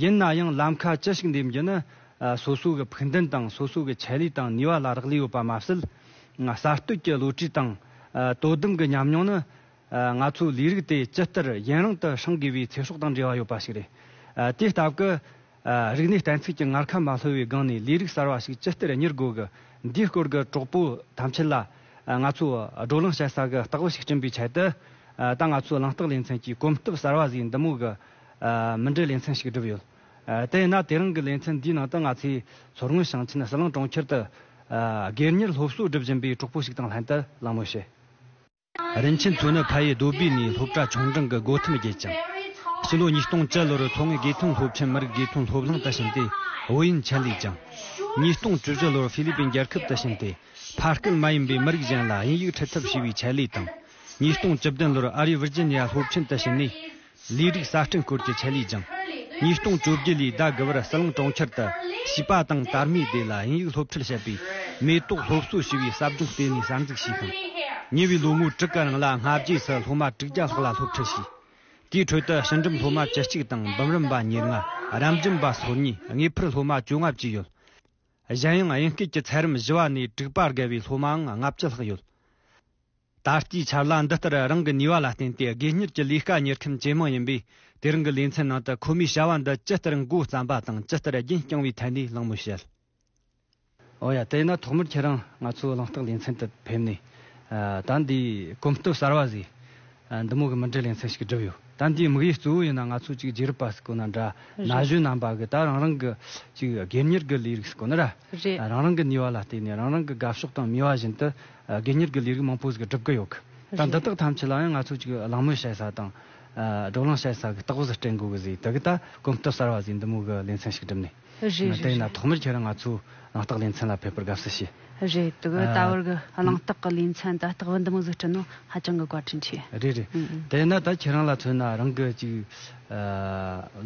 ཡིན་ན་ཡང་ལམ་ཁ་ཅི་ཞིག་འདེམས་རྒྱུ་ནི་སོ་སོ་གི་ཕུགས་འདུན་དང་སོ་སོ་གི་ཆེད་ལུས་དང་ནུས་བ་ལ་རག་ལས་ཡོད་པ་མ་ཟད། གསར་གཏོད་ཀྱི་བློ་གྲོས་དང་དོ་དམ་གྱི་ཉམས་མྱོང་ནི། ང་ཚོའི་ལས་རིགས་དེ་ཇི་ལྟར་ཡུན་རིང་དུ་བསྲང་དགོས་པའི་ཚེ་སྲོག་དང་འབྲེལ་བ་ཡོད་པ་ཞིག་རེད། དེའི་སྟབས་ཀྱིས། རིག་གནས་གཏན་ཚིགས་ཀྱི་ངར་ཁ་མ་ལྷོད་པའི་སྒང་ནས་ལས་རིགས་གསར་བ་ཞིག་ཇི་ལྟར་གཉེར་དགོས་ཀྱི་འདིའི་སྐོར་གྱི་གྲོགས་པོ་ཐམས་ཅད་ལ། ང་ཚོས་བགྲོ་གླེང་བྱེད་ས་གི་རྟགས་བུ་ཞིག་བསྐྲུན་པའི་ཆེད་དུ། ད་ང་ཚོའི་གླེང་རྟགས་ལེ་ཚན་གྱི་གོམ་སྟབས་གསར་བ་ཟིག་འདི་མོ་གི་མི་འདྲའི་ལེ་ཚན་ཞིག་བསྒྲུབས་ཡོད། དེས་ན་དེ་རིང་གི་ལེ་ཚན་འདིའི་ནང་དུ་ང་ཚོས་མཚོ་སྔོན་ཞིང་ཆེན་ཟི་ལིང་གྲོང་ཁྱེར་དུ། སྒེར་གཉེར་སློབ་གསོ་སྒྲུབ་བཞིན་པའི་གྲོགས་པོ་ཞིག་དང་ལྷན་དུ་གླེང་མོལ་བྱས། རིན་ཆེན་མཚོ་ནི་ཕ་ཡུལ་རྡོ་སྦིས་ནས་སློབ་གྲྭ་ཆུང་འབྲིང་གི་སྒོ་ཐེམ་བརྒྱད་ཅིང། ཕྱི་ལོ་ཉིས་སྟོང་བཅུ་ལོར་མཚོ་སྔོན་དགེ་ཐོན་སློབ་ཆེན་མི་རིགས་དགེ་ཐོན་སློབ་གླིང་དུ་ཕྱིན་ཏེ་ཨོ་ཡིན་ཆན་ལས་ཀྱང། ཉིས་སྟོང་བཅུ་བཞི་ལོར་ཧྥི་ལི་པིན་རྒྱལ་ཁབ་དུ་ཕྱིན་ཏེ་ཕ་སྐད་མ་ཡིན་པའི་མི་རིགས་གཞན་ལ་དབྱིན་ཡིག་འཁྲིད་ཐབས་ཞུ་བའི་ཆེད་ལས་དང། ཉིས་སྟོང་བཅུ་བདུན་ལོར་ཨ་རིའི་ཝིར་ཇི་ནི་ཡ་སློབ་ཆེན་དུ་ཕྱིན་ནས། ལས་རིགས་གསར་སྐྲུན་སྐོར་གྱི་ཆེད་ལས་སྦྱངས། ཉིས་སྟོང་བཅོ་བརྒྱད་ལོའི་ཟླ་དགུ་བར་སྲིད་གླིང་གྲོང་ཁྱེར་དུ་བྱིས་པ་དང་དར་མའི་སྡེ་ལ་དབྱིན་ཡིག་སློབ་ཁྲིད་བྱེད་པའི་མེ་ཏོག་སློབ་གསོ་ཞེས་པའི་ཟབ་སྦྱོང་ལྟེ་གནས་གསར་འཛུགས་བྱས་ཤིང། ཉེ་བའི་ལོ་ངོ་དྲུག་གི་རིང་ལ་སྔ་རྗེས་སུ་སློབ་མ་དྲུག་བརྒྱ་ལྷག་ལ་སློབ་ཁྲིད་བྱས། དེའི་ཁྲོད་དུ་ཕྱི་འགྲིམ་སློབ་མ་བཅུ་གཅིག་དང་འབུམ་རམས་པ་ཉེར་ལྔ་རམ་འབྱམས་པ་སོ་གཉིས་དངོས་ཕུད་སློབ་མ་བཅོ་ལྔ་བཅས་ཡོད། གཞན་ཡང་དབྱིན་སྐད་ཀྱི་ཚད་རིམ་བཞི་བ་ནས་དྲུག་པར་བརྒལ་བའི་སློབ་མའང་ལྔ་བཅུ་ལྷག་ཡོད། ད་ལྟའི་ཆར་ལ་འདི་ལྟར་རང་གི་ནུས་བ་ལ་བརྟེན་ཏེ་དགོས་གཉེར་གྱི་ལས་ཀ་གཉེར་མཁན་ཇེ་མང་ཡིན་པས་དེ་རིང་གི་ལས་མཚན་ནང་དུ་ཁོ་མོའི་བྱ་བ་འདི་ཇི་ལྟར་མགོ་བརྩམས་པ་དང་ཇི་ལྟར་རྒྱུན་བསྐྱངས་བའི་ཐད་ནས་གླེང་མོལ་བྱེད། འོ་ཡ་དེས་ན་ཐོག་མར་ཁྱེད་རང་ང་ཚོའི་གླེང་རྟགས་ལས་མཚན་དུ་ཕེབས་ནས། ད་འདི་གོམ་སྟབས་གསར་བ་ཟིག། འདི་མོ་གི་མི་འབྲི་ལས་མཚན་ཞིག་བསྒྲུབས་ཡོད། ད་འདིའི་དམིགས་ཡུལ་གཙོ་བོ་ཡིན་ན་ང་ཚོ་གཅིག་རྗེས་རབས་པ་ཟིག་དགོས་ན་འདྲ། ན་གཞོན་རྣམ་པ་གིས་ད་རང་རང་གི་གཅིག་དགོས་གཉེར་གྱི་ལས་རིགས་ཟིག་དགོས་ན་ར། རང་རང་གི་ནུས་བ་ལ་བརྟེན་ནས་རང་རང་གི་དགའ་ཕྱོགས་དང་མོས་བ་བཞིན་དུ་དགེ་གཉེར་གྱི་ལས་རིགས་མང་པོ་ཟིག་སྒྲུབ་ཀྱི་ཡོད་གི། ད་འདི་དག་ཐམས་ཅད་ལའང་ང་ཚོ་ཅིག་གླེང་མོལ་བྱེད་ས་དང། བགྲོ་གླེང་བྱེད་ས་གི་རྟགས་བཟོ་སྤྲད་འགོ་གི་ཟིག་དེ་གི་ད་གོམ་སྟབས་གསར་བ་ཟིག་འདི་མོ་གི་ལས་མཚན་ཞིག་སྒྲུབ་ནས། རེད་རེད་དེ་ན་རེད། ཐོག་མར་ཁྱེད་རང་ང་ཚོའི་གླེང་རྟགས་ལས་མཚན་ལ་ཕེབས་པར་དགའ་བསུ་ཞུ། རེད་དེ་གི་ད་བར་གི་གླེང་རྟགས་གི་ལས་མཚན་ད་རྟགས་བུ་འདི་མོ་ཟིག་སྤྲད་ན་ཧ་ཅང་གི་བཀའ་དྲིན་ཆེ། རེད་རེད། དེ་ན་ད་ཁྱེད་རང་ལ་མཚོན་ན་རང་གི་ཅིག།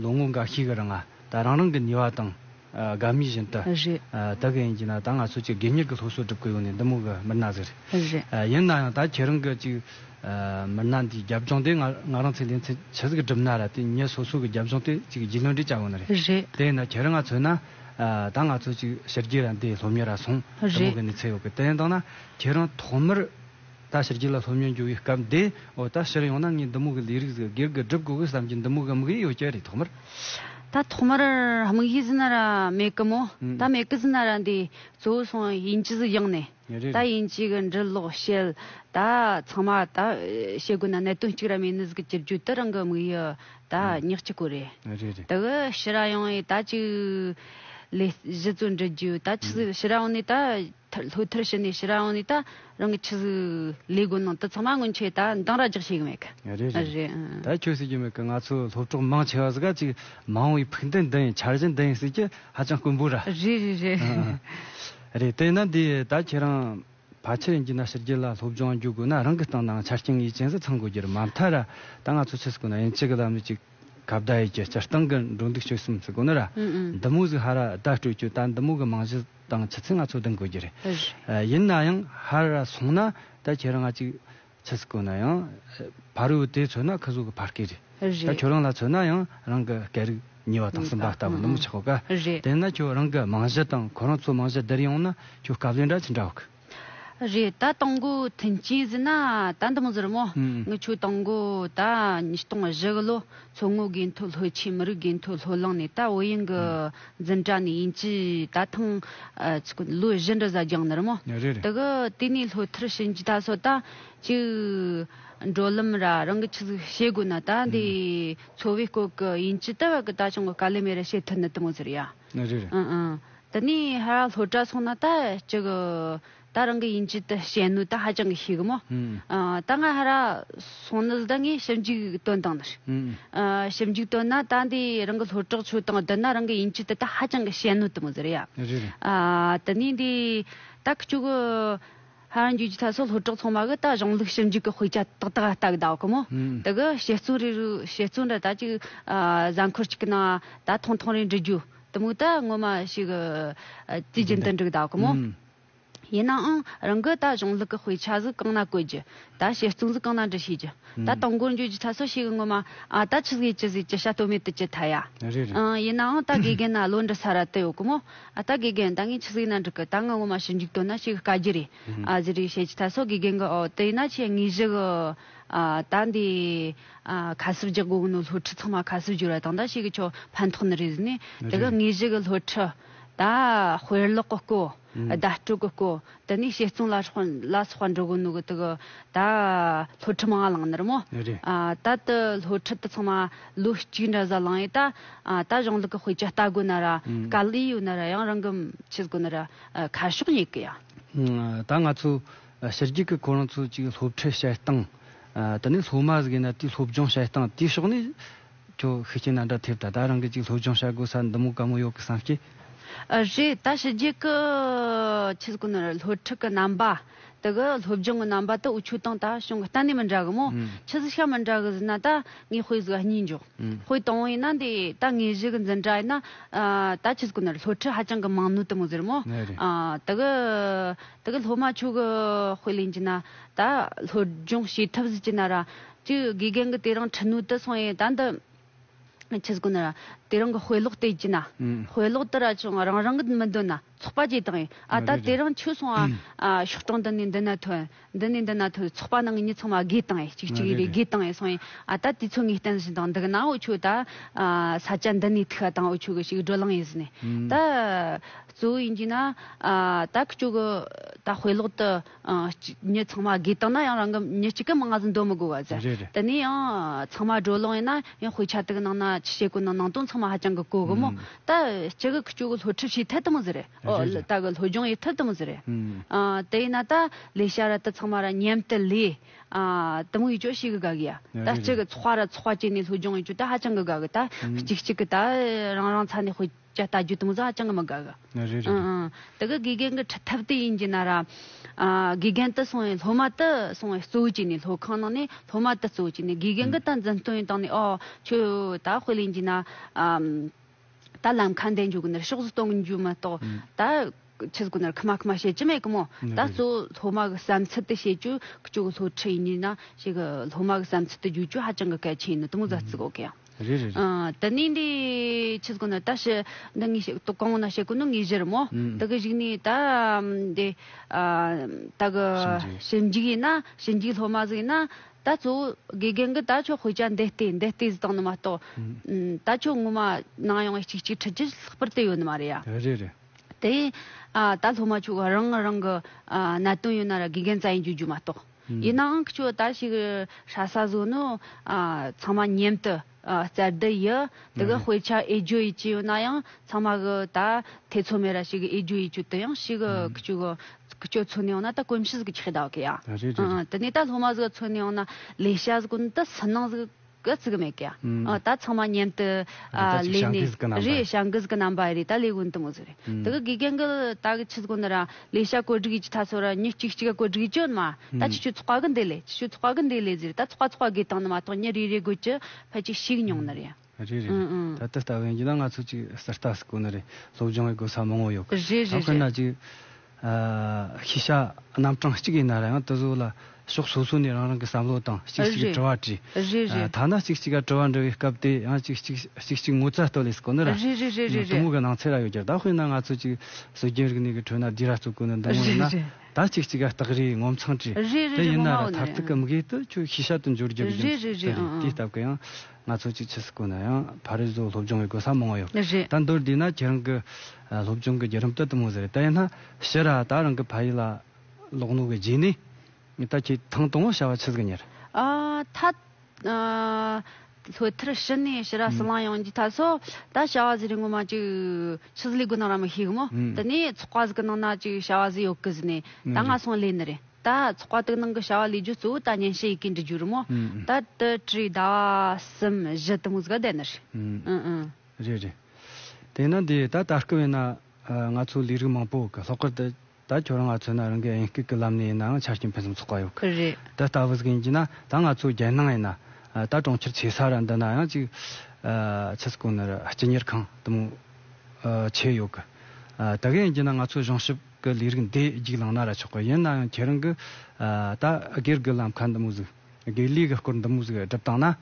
ལོ་ངོ་འགའ་ཤས་གི་རིང་ད་རང་རང་གི་ནུས་བ་དང། དགའ་མོས་བཞིན་དུ། རེད། ད་གི་ཡིན་གྱི་ན་ད་ང་ཚོ་གཅིག་དགེ་གཉེར་གྱི་སློབ་གསོ་སྒྲུབ་གི་ཡོང་ནས་འདི་མོ་གི་མི་སྣ་ཟེར། རེད། ཡིན་ན་ཡང་ད་ཁྱེད་རང་གི་གཅིག། མི་སྣ་འདིའི་རྒྱབ་ལྗོངས་དེ་ང་རང་ཚོས་ལས་འཚེ་ཇི་ཟིག་སྒྲུབ་ན་ར་དེ་ཉིད་སོ་སོ་གི་རྒྱབ་ལྗོངས་དེ་གཅིག་རྒྱུས་ལོན་འདྲི་བྱ་ཡོང་ནི་རེད། རེད། དེ་ཡིན་ན་ཁྱེད་རང་ང་ཚོས་ན། ད་ང་ཚོ་གཅིག་ཕྱི་རྒྱལ་ར་འདི་སློབ་གཉེར་ར་སོང། འདི་མོ་རེད། གི་ནི་ཚེ་ཡོད་གི་དེ་ཡིན་དང་ན་ཁྱེད་རང་ཐོག་མར། ད་ཕྱིར་རྒྱུད་ལ་ལྷོད་མྱོང་འགྱུར་བའི་སྐབས་འདི་འོ་ད་ཕྱིར་ཡང་ན་ངའི་འདི་མུག་གི་ལས་རིགས་སུ་སྒེར་གྱི་སྒྲུབ་དགོས་གི་བསམ་གྱི་འདི་མུག་དམིགས་ཡུལ་ཡོད་ཀྱི་རེད་ཐོག་མར། ད་ཐོག་མར་དམིགས་ཡུལ་ཟི་ན་ར་མེད་གི་མོ་ད་མེད་གི་ཟི་ན་ར་འདི་གཙོ་བོ་སོང་ཡིན་གྱི་ཟི་ཡིན་ནས་ད་ཡིན་གྱི་གི་འབྲི་ཀློག་བཤད་ད་ཚང་མ་ད་བྱེད་དགོས་ན་གནད་དོན་གཅིག་ར་མེད་ནི་ཟི་གི་གྱི་རྒྱུད་དུ་རང་གི་དམིགས་ཡུལ་ད་ཉག་གཅིག་གོ་རེད་དག་ཕྱི་ར་ཡང་ཡི་ད་གཅིག་ལས་གཞི་གཙོ་འབྲི་རྒྱུ་ད་ཕྱི་ར་ཡང་ནི་ད་ལྷོད་ཐར་ཕྱི་ནས་ཕྱི་ར་ཡང་ནི་ད། རང་གི་ཆུ་གཟུགས་ལས་དགོན་ནང་དུ་ཚང་མ་སྔོན་ཆད་ད་འདང་ར་རྒྱག་བྱེད་གི་མེད་གི་རེད་རེད་རེད། ད་ཁྱོད་ཟེར་གྱི་མེད་གི་ང་ཚོ་སློབ་གྲོགས་མང་ཆེ་བ་ཟེར་ག་ཅིག་མང་བའི་ཕུགས་འདུན་འདི་ཡིན་འཆར་གཞི་འདི་ཡིན་ཟེར་གྱི་ཧ་ཅང་དཀོན་པོ་ར། རེད་རེད་རེད། རེད་དེས་ན་འདི་ད་ཁྱེད་རང་ཕ་ཁྱེད་ཀྱི་ན་ཕྱི་རྒྱལ་ལ་སློབ་སྦྱོང་རྒྱུག་དགོས་ན་རང་གི་སྟེང་ནང་ཆ་རྐྱེན་ངེས་ཅན་ཟིག་ཚང་དགོས་རྒྱུ་རེད་མ་མཐའ་ར་ད་ང་ཚོ་ཆུ་ཟུགས་ན་ཡིན་གཅིག་གི་ལམ་ལུགས་གཅིག་གབ་ད་ཡིན་གྱི་སྤྱིར་བཏང་གི་འགྲོ་འདུག་སྤྱོད་གསུམ་ཟིག་དགོས་ན་ར་འདི་མོ་ཟིག་ཧ་ར་ད་སྤྲོད་རྒྱུ་ད་འདི་མོ་གི་མང་གཞི་དང་ཆུ་ཚོད་ལྔ་ཚོད་ལྡང་དགོས་ཀྱི་རེད། ཡིན་ན་ཡང་ཧ་ར་ར་སོང་ན་ད་ཁྱེད་རང་ང་གཅིག་ཆུ་ཚོད་དགོས་ན་ཡང་བར་ཡོད་དེ་ཚོད་ན་ཁུ་ཟུག་གི་བར་སྐད་རེད། ད་ཁྱོད་རང་ལ་ཚོད་ན་ཡང་རང་གི་སྐད་རིགས་ཉེ་བ་དང་གསུམ་པ་ལྟ་བུ་ནུབ་མོ་ཆགས་གོ་ག་དེ་ན་ཁྱོད་རང་གི་མང་གཞི་དང་ཁོ་རང་ཚོ་མང་གཞི་བསྡུར་ཡོང་ན་ཁྱོད་སྐབས་ལས་འདྲ་ཆི་འདྲ་འོག་གི། རེད་ད་སྟོང་དགུ་ཐུན་སྐྱེས་བཟི་ན་ད་འདི་མོ་བཟི་རུ་མོ་ངི་ཆོས་སྟོང་དགུ་ད་ཉིས་སྟོང་བཞི་གི་ལོ་མཚོ་སྔོ་དགེ་མཐོ་ལྷོ་ཆེ་མི་རིགས་དགེ་མཐོ་ལྷོ་ལང་ནས་ད་བོད་ཡིན་གི་འཛིན་གྲྭ་ནས་ཡིན་གྱི་ད་ཐང་ལོ་བཞི་འདྲི་ཟ་རྒྱང་ནི་རུ་མོ་དི་གི་དེ་ནས་ལྷོ་ཐར་ཕྱིན་གྱི་ད་སོ་ད་ཅིག་འགྲོ་ལམ་ར་རང་གི་ཆི་ཟིག་བྱེད་དགོས་ན་ད་འདི་འཚོ་བའི་སྐོར་གི་ཡིན་གྱི་ད་བར་གི་ད་ཅང་གི་དཀའ་ལས་མེད་ར་བྱེད་ཐུ་ནི་དི་མོ་བཟི་རུ་ཡ་ཨི་ཨི་འདི་ནི་ཧ་ར་ལྷོ་བྲག་སོང་ན་ད་ཅི་གི། ད་རང་གི་ཡིན་གྱི་ད་བྱེད་ནུས་ད་ཧ་ཅང་གི་ཤེས་གི་མོ། ད་ང་ཧ་ར་སོང་ནི་ད་ངས་ཞིབ་འཇུག་དོན་དང་ནི། ཞིབ་འཇུག་དོན་ན་ད་འདི་རང་གི་ལྷོ་བྲག་ཆུ་དང་བསྡུར་ན་རང་གི་ཡིན་གྱི་ད་ད་ཧ་ཅང་གི་བྱེད་ནུས་དུ་མོ་ཟེར་ཡ། དེ་ནས་འདི་ད་ཁྱོད་གི་ཧ་ར་འགྱོད་ཀྱི་ཐད་སོགས་ལྷོ་བྲག་ཚང་མ་གི་ད་གཞུང་ལུགས་ཞིབ་འཇུག་གི་དཔེ་ཆ་ཏག་ཏག་ལྟ་གི་ད་གི་མོ། དེ་གི་བྱེད་བརྩོན་རེ་རུ་བྱེད་བརྩོན་རེ་ད་ཅི་གི་གཟའ་འཁོར་གཅིག་གི་ནང་ད་ཐུང་ཐུང་རེ་འབྲི་རྒྱུ་དུ་མུ་ད་སྔོན་མ་ཞིག་དུས་རྒྱུན་དུ་འགྲིག་གདའ་གི་མོ། ཡིན་ནའང་རང་གི་ད་གཞུང་ལུགས་ཀྱི་དཔེ་ཆ་གཟུགས་གང་ན་བཀོད་རྒྱུ། ད་བྱེད་རྩོམ་གཟུགས་གང་ན་འབྲི་ཤེས་རྒྱུ། ད་དང་པོར་འགྱོད་རྒྱུ་ཚ་སོ་ཞིག་སྔོན་མ་ཨ་ད་ཆི་ཟེར་ཅི་ཟེར་ཅི་བྱ་གཏོལ་མེད་དུ་བྱེད་ཐལ་ཡ། ཡིན་ནའང་ད་དགེ་རྒན་ན་བློ་འདྲི་ས་ར་དུ་ཡོད་གི་མོ། ད་དགེ་རྒན་ད་ངས་ཆི་ཟེར་ན་འགྲིག་གི་ད་ང་སྔོན་མ་ཞིབ་འཇུག་གཏོལ་ན་ཞིག་དཀའ་རྒྱུ་རེད། ཨ་ཟེར་རེད་བྱེད་ཀྱི་ཐལ་སོ་དགེ་རྒན་གི་ཨོ་དེ་ཡིན་ན་ཁྱེད་ངེས་ཞིག་ཨ་ད་འདི། ཁ་གསབ་རྒྱག་དགོས་ནོ་སློ་ཁྲི་ཚང་མ་ཁ་གསབ་བསྒྱུར་བ་དང་ད་ཤེ་གི་ཆོ་ཕན་ཐོག་ནི་རེད་ནི་དེ་ག་ངེས་ཤེ་གི་སློ་ཁྲི་ད་དཔེ་ཀློག་གི་སྐོ་ད་སྤྲོད་གི་སྐོ་ད་ནི་ཤེ་བཙོང་ལ་སོགས་པ་འགྲོ་དགོས་ནོ་གི་དི་གི་ད་སློ་ཁྲི་མང་ང་ལང་ནི་རི་མོ་ད་དི་སློ་ཁྲི་དི་ཚང་མ་ལོ་གཅིག་འདྲ་བཟའ་ལང་ཡི་ད་ད་གཞུང་ལུགས་གི་དཔེ་ཆ་ལྟ་དགོས་ན་ར་ག་ལི་ཡོད་ན་ར་ཡང་རང་གི་མཆི་དགོས་ན་ར་ཁ་ཤོག་ཡེ་གི་ཡ། ད་ང་ཚོ་ཕྱི་རྒྱལ་གྱི་ཁོ་རང་ཚོའི་ཅིག་སློབ་ཁྲིད་བྱེད་སྟངས། དེ་ནས་སློབ་མ་ཟིག་ཡིན་ན་དེའི་སློབ་སྦྱོང་བྱེད་སྟངས་དེའི་ཕྱོགས་ནས། ཁྱོད་ཤུགས་རྐྱེན་ན་འདྲ་ཐེབས་ད་ལྟ་རང་གིས་ཅིག་སློབ་སྦྱོང་བྱ་དགོས་ས་འདི་མོ་དཀའ་མོ་ཡོད་གི་བསམ་གི། རེད་ད་ཕྱི་རྒྱལ་གྱི་ཆེད་དགོ་ནོར་སློབ་ཁྲིད་ཀྱི་རྣམ་པ། དེ་གི་སློབ་སྦྱོང་གི་རྣམ་པ་དེ་འུ་ཆོས་དང་ད་བྱུང་གི་གཏན་ནས་མི་འདྲ་གི་མོ། ཕྱི་ཟིག་ཤ་མི་འདྲ་གི་ཟིན་ན་ད་ངའི་དཔེ་ཟིག་གཉིས་འཇོག། དཔེ་དང་བོ་ཡིན་ན་འདི་ད་ངའི་གཞི་གི་འཛིན་གྲྭ་ཡིན་ན། ད་ཆེད་དགོ་ནོར་སློབ་ཁྲིད་ཧ་ཅང་གི་མང་ནུས་དེ་མོ་ཟེར་མོ། དེ་གི། དེ་གི་སློབ་མ་ཆོས་གི་དཔེ་ལེན་གྱི་ན་ད་སློབ་སྦྱོང་བྱེད་ཐབས་གཟིགས་ཀྱི་ན་ར། ཅི་དགེ་རྒན་གི་དེ་རིང་ཁྲི་ནུས་དུ་སོང་ཡས་ད་འདི་ཁྱི་ཟིག་གོ་ན་ར། དེ་རིང་གི་དཔེ་ཀློག་བལྟས་ཀྱི་ན། དཔེ་ཀློག་དུ་ར་ཅུང་རང་རང་གི་མི་འདོད་ན་ཚོགས་པ་བྱེད་དང་ཡས་ཨ་ད་དེ་རིང་ཁྱི་སོང་ཨ། ཤོག་གྲངས་འདི་ནས་འདི་ན་ཐོན་འདི་ནས་འདི་ན་ཐོན་ཚོགས་པ་ནང་གི་མྱི་ཚང་མ་དགེ་དང་ཡས་གཅིག་གཅིག་རེ་དགེ་དང་ཡས་སོང་ཡས་ཨ་ད་དེ་ཚོ་ངས་བསྟན་བཞིན་དང་འདི་གི་ན་འོ་ཆོས་ད། ས་སྐྱ་འདི་ནས་ཐུག་ཨ་དང་འོ་ཆོས་གི་ཞིག་བགྲོ་གླང་ཡས་ཟིན་ནས་ད། གཙོ་བོ་ཡིན་གྱི་ན། ད་ཁྱོད་ཀྱི་ད་དཔེ་ཀློག་དུ། མྱི་ཚང་མ་དགེ་བཏང་ན་ཡང་རང་གི་མྱི་གཅིག་གི་མངའ་ཟིན་འདོན་མི་དགོས་བ་ཟེར། དེ་ནས་ཡང་ཚང་མ་སྒྲོ་ལོང་ཡིན་ན་ཡང་དཔེ་ཆ་དག་ནང་ན་ཆུ་ཤེལ་སྐུ་ནང་ནང་དོན་ཚང་མ་ཧ་ཅང་གི་གོ་གི་མོ། ད་ཅི་གི་ཁྱོད་ཀྱི་སློབ་ཁྲིད་བྱས་ཐལ་དུ་མི་ཟེར་རེད། ད་གི་སློབ་སྦྱོང་ཡས་ཐལ་དུ་མི་ཟེར་རེད། དེ་ཡིན་ན་ད་ལས་བྱ་ར་དི་ཚང་མ་ར་མཉམ་དུ་ལས། དུ་མི་ཡིས་ཅོ་ཤེས་གི་དགའ་གི་ཡ། ད་ཅི་གི་ཚོགས་ར་ཚོགས་བྱས་ནས་སློབ་སྦྱོང་ཡས་ཅོ་ད་ཧ་ཅང་གི་དགའ་གི་ད་གཅིག་གཅིག་གི་ད་རང་རང་ཚ་ནས་དཔེ། ཅ་ལྟ་རྒྱུ་དང་བཟའ་བཅའང་མི་དགའ་གི། རེད་རེད་རེད། དེ་གི་དགེ་རྒན་གི་ཁྲི་ཐབས་དེ་ཡིན་གྱི་ན་ར། དགེ་རྒན་དེ་སོང་བས་སློབ་མ་དེ་སོང་བས་གཙོ་བོ་བྱས་ནས་སློབ་ཁང་ནང་ནས་སློབ་མ་དེ་གཙོ་བོ་བྱས་ནས་དགེ་རྒན་གི་ད་འཛིན་སྟོན་བཏང་ནས་ཨོ། ཁྱོད་ད་དཔེ་ལེན་གྱི་ན། ད་ལམ་ཁ་འདེད་འཇུག་གི་ན་རེ་ཕྱོགས་སུ་གཏོང་རྒྱུ་མ་གཏོགས་ད། ཁྱེད་ཀྱི་ན་རེ་ཁི་མ་ཁི་མ་བྱེད་ཀྱི་མེད་གི་མོད་ད་གཙོ་བོ་སློབ་མ་གི་བསམ་ཚུལ་དེ་བྱེད་རྒྱུ་ཁྱོད་ཀྱི་སློབ་ཁྲིད་ཡིན་གྱི་ན། ཞེས་ཀྱི་སློབ་མ་གི་བསམ་ཚུལ་དེ་བརྗོད་རྒྱུ་ཧ་ཅང་གི་གལ་ཆེན་ཡིན་ནོ་དང་བཟའ་བརྩི་དགོས་གི་ཡིན། རེད་རེད་རེད། ད་ནི་འདི་ཕྱིར་གོ་ན་ད་ཞི་འདི་ངས་ཞིག་ཏུ་གང་ན་ཞེ་གོ་ནི་ངས་གཞིར་མོ། དེ་གི་གཞིག་ནས་ད་འདི་ད་གི་ཞི་འཇིག་ཡིན་ན་ཞི་འཇིག་སློབ་མ་ཟིག་ཡིན་ན་ད་གཙོ་བོ་དགེ་རྒན་གི་ད་ཆོག་དཔེ་ཆ་འདི་ལྟའི་འདི་ལྟའི་ཟིག་བཏང་ནི་མ་གཏོགས། ད་ཆོག་ངོ་མ་ནང་ཡོང་བའི་ཅིག་ཅིག་ཁྲི་ཅིག་ལྷག་པར་བལྟས་ཡོད་ནི་མ་རེད་ཡ། རེད་རེད། དེ་ཡིན་ད་སློབ་མ་ཆོག་རང་རང་གི་གནད་དོན་ཡོད་ན་ར་དགེ་རྒན་རྩ་ཡིན་རྒྱུ་རྒྱུ་མ་གཏོགས། ཡིན་ནའང་ཁྱོད་ལྟ་ཞིག་ཧྲ་ས་བཟོ་ནི་ཚང་མ་མཉེན་དུ་བཙལ་བསྡད་ཡི་འདུག་གི་དཔེ་ཆ་ཨེ་རྒྱུ་ཡི་ཅི་ཡོད་ན་ཡང་ཚང་མ་གི་ད་ཐེ་ཚོམ་མེད་ར་ཞིག་གི་ཨེ་རྒྱུ་ཡི་ཅུ་དི་ཡང་ཞིག་གི་ཁྱུ་གི་ཁྱོད་མཚོན་ནི་ཡོང་ན་ད་གོམས་ཤིས་གི་ཁྱི་ཟླ་གི་ཡ་དེ་ནས་ད་ལྷོ་མ་ཟིག་གི་མཚོན་ནི་ཡོང་ན་ལས་ཤ་ཟིག་གི་ནི་ད་སུན་སྣང་ཟིག་གི་གི་བརྩི་གི་མེད་གི། ད་ཚང་མ་མཉམ་དུ། ལས་ནི། རེད་བྱང་གིས་གི་རྣམ་པ་རེད་ད་ལས་གོན་དུ་མི་བཟོ་རེད། དེ་གི་དགེ་རྒན་གི་ད་གི་ཆུ་གོན་ར། ལས་བྱ་བཀོད་སྒྲིག་ཡི་ཆུ་ཐ་ཚོ་ར་ཉིན་གཅིག་གཅིག་ག་བཀོད་སྒྲིག་ཡི་ཅོན་མ། ད་ཆུ་ཆུ་ཚོགས་ག་གི་འདི་ལས་ཆུ་ཆུ་ཚོགས་ག་གི་འདི་ལས་ཟེར་ད་ཚོགས་ག་ཚོགས་ག་གི་དང་ནི་མ་གཏོགས་ཉིན་རེ་རེ་དགོས་ཀྱི་ཕལ་ཆེ་ཞིག་མྱོང་ནི་རེད། རེད་རེད་རེད་ད་དེ་ལྟ་བུ་ཡིན་གྱི་ན་ང་ཚོ་གཅིག་སི་རྟ་སི་གོ་ནི་རེད་སློབ་སྦྱོང་གི་དགོས་ས་མང་བོ་ཡོད་གི། རེད་རེད་རེད། ད་དཔེར་ན་གཅིག། ཤེས་བྱ་རྣམ་གྲངས་གཅིག་ཡིན་ན་རང་ཡང་ཏི་ཟུག་ལ་ཕྱོགས་སོ་སོ་ནས་རང་རང་གི་བསམ་བློ་དང་གཅིག་གཅིག་གི་དྲི་བ་དྲིས། ཐ་ན་གཅིག་གཅིག་ག་དྲི་བ་འདྲི་བའི་སྐབས་དེ་ཡང་གཅིག་གཅིག་གཅིག་གཅིག་ངོ་ཚ་ལྟོས་ལེ་སི་ཀོ་ནི་ར་ཏི་མོ་གི་ནང་ཚེ་ར་ཡོད་ཀྱི་ད་དཔེར་ན་ང་ཚོ་གཅིག་སྲོལ་རྒྱུན་རིག་གནས་ཀྱི་ཁྲོད་ན་སྡིག་ར་གཙོ་དཀོན་ནི་འདི་མོ་ཡིན་ན་ད་གཅིག་གཅིག་ག་སྟག་རིའི་ངོ་མཚང་དྲིས། དེ་ཡིན་ན་ར་མཐར་ཐུག་གི་མི་གེ་ཏི་ཁྱོད་ཤེས་བྱ་དུ་འགྱུར་རྒྱུ་རྒྱུ་མཚན་དེ་རེད་དེའི་སྟབས་ཀྱི་ཡང་ང་ཚོ་གཅིག་ཆི་སི་ཀོ་ན་ཡང་ཕ་རི་བཟོ་སློབ་སྦྱོང་བའི་གོ་ས་མང་བོ་ཡོད་ད་མདོར་བསྡུས་ན་ཁྱེད་རང་གི་སློབ་སྦྱོང་གི་བརྒྱུད་རིམ་སྟོད་དུ་མོ་ཟེར་བལྟས་ན་ཤི་ར་ད་རང་གི་ཕ་ཡུལ་ལ་ལོག་ནོ་བའི་རྗེས་ནས་ད་ཁྱེད་ཐང་སྟོང་བ་བྱ་བ་ཆི་ཟིག་གཉེར། ད་ལྷོད་ཐར་ཕྱི་ནས་ཤི་ར་སི་ལང་ཡོང་རྒྱུའི་ཐབས་སོགས་ད་བྱ་བ་ཟི་རིགས་ངོ་མ་ཅིག་ཆི་ཟི་ལས་དགོས་གནང་ར་མི་ཤེས་གི་མོ་དེ་ནས་ཚོགས་པ་ཟི་གི་གནང་ན་ཅིག་བྱ་བ་ཟི་ཡོག་གི་ཟི་ནས་ད་ང་སོང་ལས་ནི་རེད་ད་ཚོགས་པ་དིག་གནང་གི་བྱ་བ་ལས་རྒྱུ་གཙོ་བོ་ད་ཉན་བྱེད་ཡི་གེ་འབྲི་རྒྱུ་རི་མོ་ད་དི་དྲི་ཟླ་བ་གསུམ་བཞི་དི་མོ་ཟི་ག་བསྡད་ནི་རེད་ཨི་ཨི། རེད་རེད། དེས་ན་འདི་ད་ལྟ་སྐུ་བས་ན། ང་ཚོ་ལས་རིགས་མང་པོ་གི་ལྷག་པར་དུ། ད་ཁྱོད་རང་ང་ཚོས་ན་རང་གི་དབྱིན་སྐད་ཀྱི་ལམ་ནས་ཡིན་ནའང་ཆ་རྐྱེན་ཕུན་སུམ་ཚོགས་པ་ཡོད་གི། རེད། འདི་ལྟ་བུ་ཟིག་ཡིན་གྱི་ན་ད་ང་ཚོ་རྒྱལ་ནང་ཡིན་ན། ད་གྲོང་ཁྱེར་ཆེ་ས་ར་འདི་ན་ཡང་ཅིག། ཆུ་སྐོར་ནི་ར་སྤྱི་གཉེར་ཁང་དུ་མོ། ཆེ་ཡོད་གི། དེ་ག་ཡིན་གྱི་ན་ང་ཚོ་གཞུང་ཞབས་ཀྱི་ལས་རིགས་འདི་རྒྱུགས་ལངས་ན་ར་ཆོག་གི་ཡིན་ནའང་ཁྱེད་རང་གི། ད་སྒེར་གྱི་ལམ་ཁ་འདི་མོ་ཟིག། སྒེར་ལས་ཀྱི་སྐོར་འདི་མོ་ཟིག་སྒྲུབ་སྟངས་ན།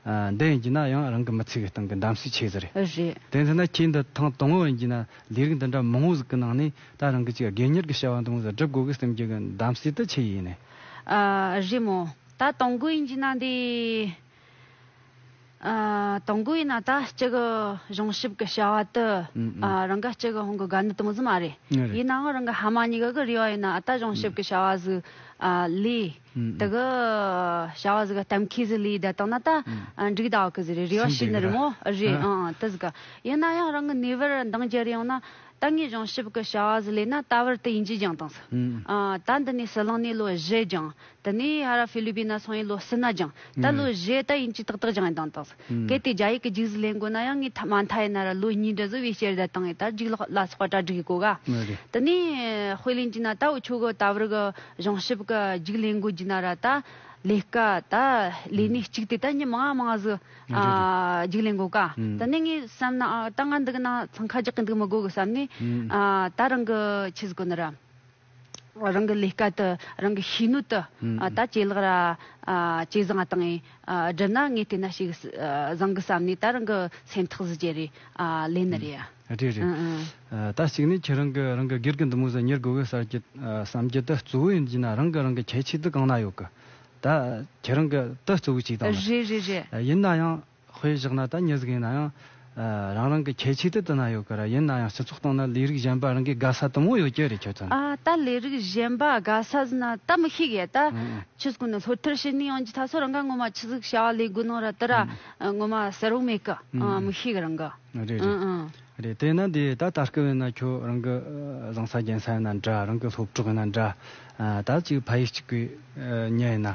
འདི་ཡིན་གྱིས་ན་ཡང་རང་གི་མི་ཚེ་གི་སྟེང་གི་འདམ་སའི་ཆེས་ཟེར། རེད། དེ་མཚོན་ན་ཁྱེད་འདི་ཐེངས་དང་བོ་ཡིན་གྱིས་ན་ལས་རིགས་འདི་འདྲ་མང་བོ་ཟིག་གི་ནང་ནས་ད་རང་གི་ཅིག་དགེ་གཉེར་གྱི་བྱ་བ་འདང་བོ་ཟིག་སྒྲུབ་དགོས་གི་སེམས་ཀྱི་གི་འདམ་སའི་དུ་ཆེས་ཡིན་ནི། རེད་མོ། ད་དང་བོ་ཡིན་གྱིས་ན་འདི། དང་བོ་ཡིན་ན་ད་ཅིག་གི་གཞུང་ཞིབ་གི་བྱ་བ་དུ། རང་གི་ཅིག་གི་ཧོང་གི་དགའ་ནི་དང་བོ་མ་རེད། ཡིན་ནའང་རང་གི་ཧ་མ་ཉིག་གི་རེ་བ་ཡིན་ན་ད་གཞུང་ཞིབ་གི་བྱ་བ་ཟིག་ལས། དེ་གི་བྱ་བ་ཟིག་གཏམ་ཁེ་ཟི་ལིའི་བརྡ་དག་ན་ད་འགྲིག་ད་ཀི་ཟི་རེད་རེ་བ་ཞིག་ནི་རི་མོ་རེད་ཨང་ཨང་དི་ཟི་ག་ཡིན་ན་ཡང་རང་གི་ནུས་པར་འདང་རྒྱལ་ཡོང་ན་ད་ངས་སྦྱང་ཞིབ་གི་བྱ་བ་ཟི་ལས་ན་ད་བར་དི་ཡིན་གྱིས་སྦྱང་དང་ཟི་ད་འདི་ནས་སི་ལང་ནས་ལོ་བཞི་སྦྱང་དི་ནས་ཧ་ར་ཕི་ལུ་པི་ན་སོང་ཡིན་ལོ་སི་ན་སྦྱང་ད་ལོ་བཞི་ད་ཡིན་གྱིས་ཏག་ཏག་སྦྱང་ཡིན་དང་དང་ཟི། གལ་ཏེ་རྒྱ་ཡིག་གི་འཇིག་གཟིགས་ལེན་དགོས་ན་ཡང་ངའི་མ་མཐའ་ཡིན་ན་ར་ལོ་གཉིས་འདྲ་བཟོ་བའི་སྐྱེར་ཟླ་དང་ཡི་དྭགས་འཇིག་ལག་ལ་སོགས་པ་གྲ་སྒྲིག་གོ་ག། དེ་ནས་དཔེ་ལེན་གྱིས་ན་ད་འུ་ཆོས་གི་ད་བར་གི་བྱང་ཞིབ་གི་འཇིག་ལེན་དགོས་གྱིས་ན་ར་ད་ལས་ཀ་ད་ལས་གནས་གཅིག་དེ་ད་ཉི་མ་ང་མང་གཟུགས་འཇིག་ལེན་དགོས་ག། དེ་ནས་ངས་བསམ་ན་ཨ་ད་ང་འདི་གི་ནང་འཚང་ཁ་རྒྱག་གི་འདུག་མི་དགོས་གི་བསམ་ནས་ད་རང་གི་ཆས་གོ་ན་ར། རང་གི་ལས་སྐལ་དུ་རང་གི་ཤེས་ནུས་དུ་ད་ཇེ་ལེགས་ར་ཇེ་བཟང་བ་དང་ཡིན། བསྒྲུབ་ན་ངས་དེ་འད་ཞིག་བཟང་གི་བསམ་ནས་ད་རང་གི་སེམས་ཐག་གཟི་བརྒྱད་རེད་ལན་ནི་རེད་ཡ། རེད་རེད། ད་གཅིག་ནས་ཁྱེད་རང་གི་རང་གི་སྒེར་གི་འདུ་མུས་སུ་ཉེར་དགོས་གི་སར་གྱི་བསམ་གྱི་དུ་གཙོ་བོ་ཡིན་གྱི་ན་རང་གི་རང་གི་ཁྱད་ཆོས་དུ་གང་ན་ཡོད་གི་ད་ཁྱེད་རང་གི་དུ་གཙོ་བོ་གཅིག་དང་ལ། རེད་རེད་རེད། ཡིན་ན་ཡང། དཔེ་བཞག་ན་ད་ཉིད་ཟིག་ཡིན་ན་ཡང། རང་རང་གི་ཁྱད་ཆོས་དེ་དུ་ན་ཡོད་གི་རེད་ཡིན་ན་ཡང་སྤྱི་ཚོགས་སྟེང་ན་ལས་རིགས་གཞན་པ་རང་གི་དགའ་ས་དུམ་བུ་ཡོད་ཀྱི་རེད་ཁྱོད་ཚོ་ན། ད་ལས་རིགས་གཞན་པ་དགའ་ས་ཟིན་ན་ད་མི་ཤེས་གི་ད། ཁྱོད་ཚོ་ནི་ལྷོད་ཐར་བྱེད་ནི་ཡོང་རྒྱུ་ད་སོ་རང་ག་ངོ་མ་ཆི་ཟིག་བྱ་བ་ལས་དགོས་ནོ་ར་དི་ར་ངོ་མ་ཟེར་བོ་མེད་གི་མི་ཤེས་གི་རང་གི། རེད་རེད་རེད་དེ་ན་དེ་ད་ད་སྐབས་ཡིན་ན་ཁྱོད་རང་གི་བཟང་ས་རྒྱན་ས་ཡིན་ན་འདྲ་རང་གི་སློབ་གྲོགས་ཡིན་ན་འདྲ། ད་གཅིག་ཕ་ཡུལ་གཅིག་གི་གཉེན་ཡིན་ན།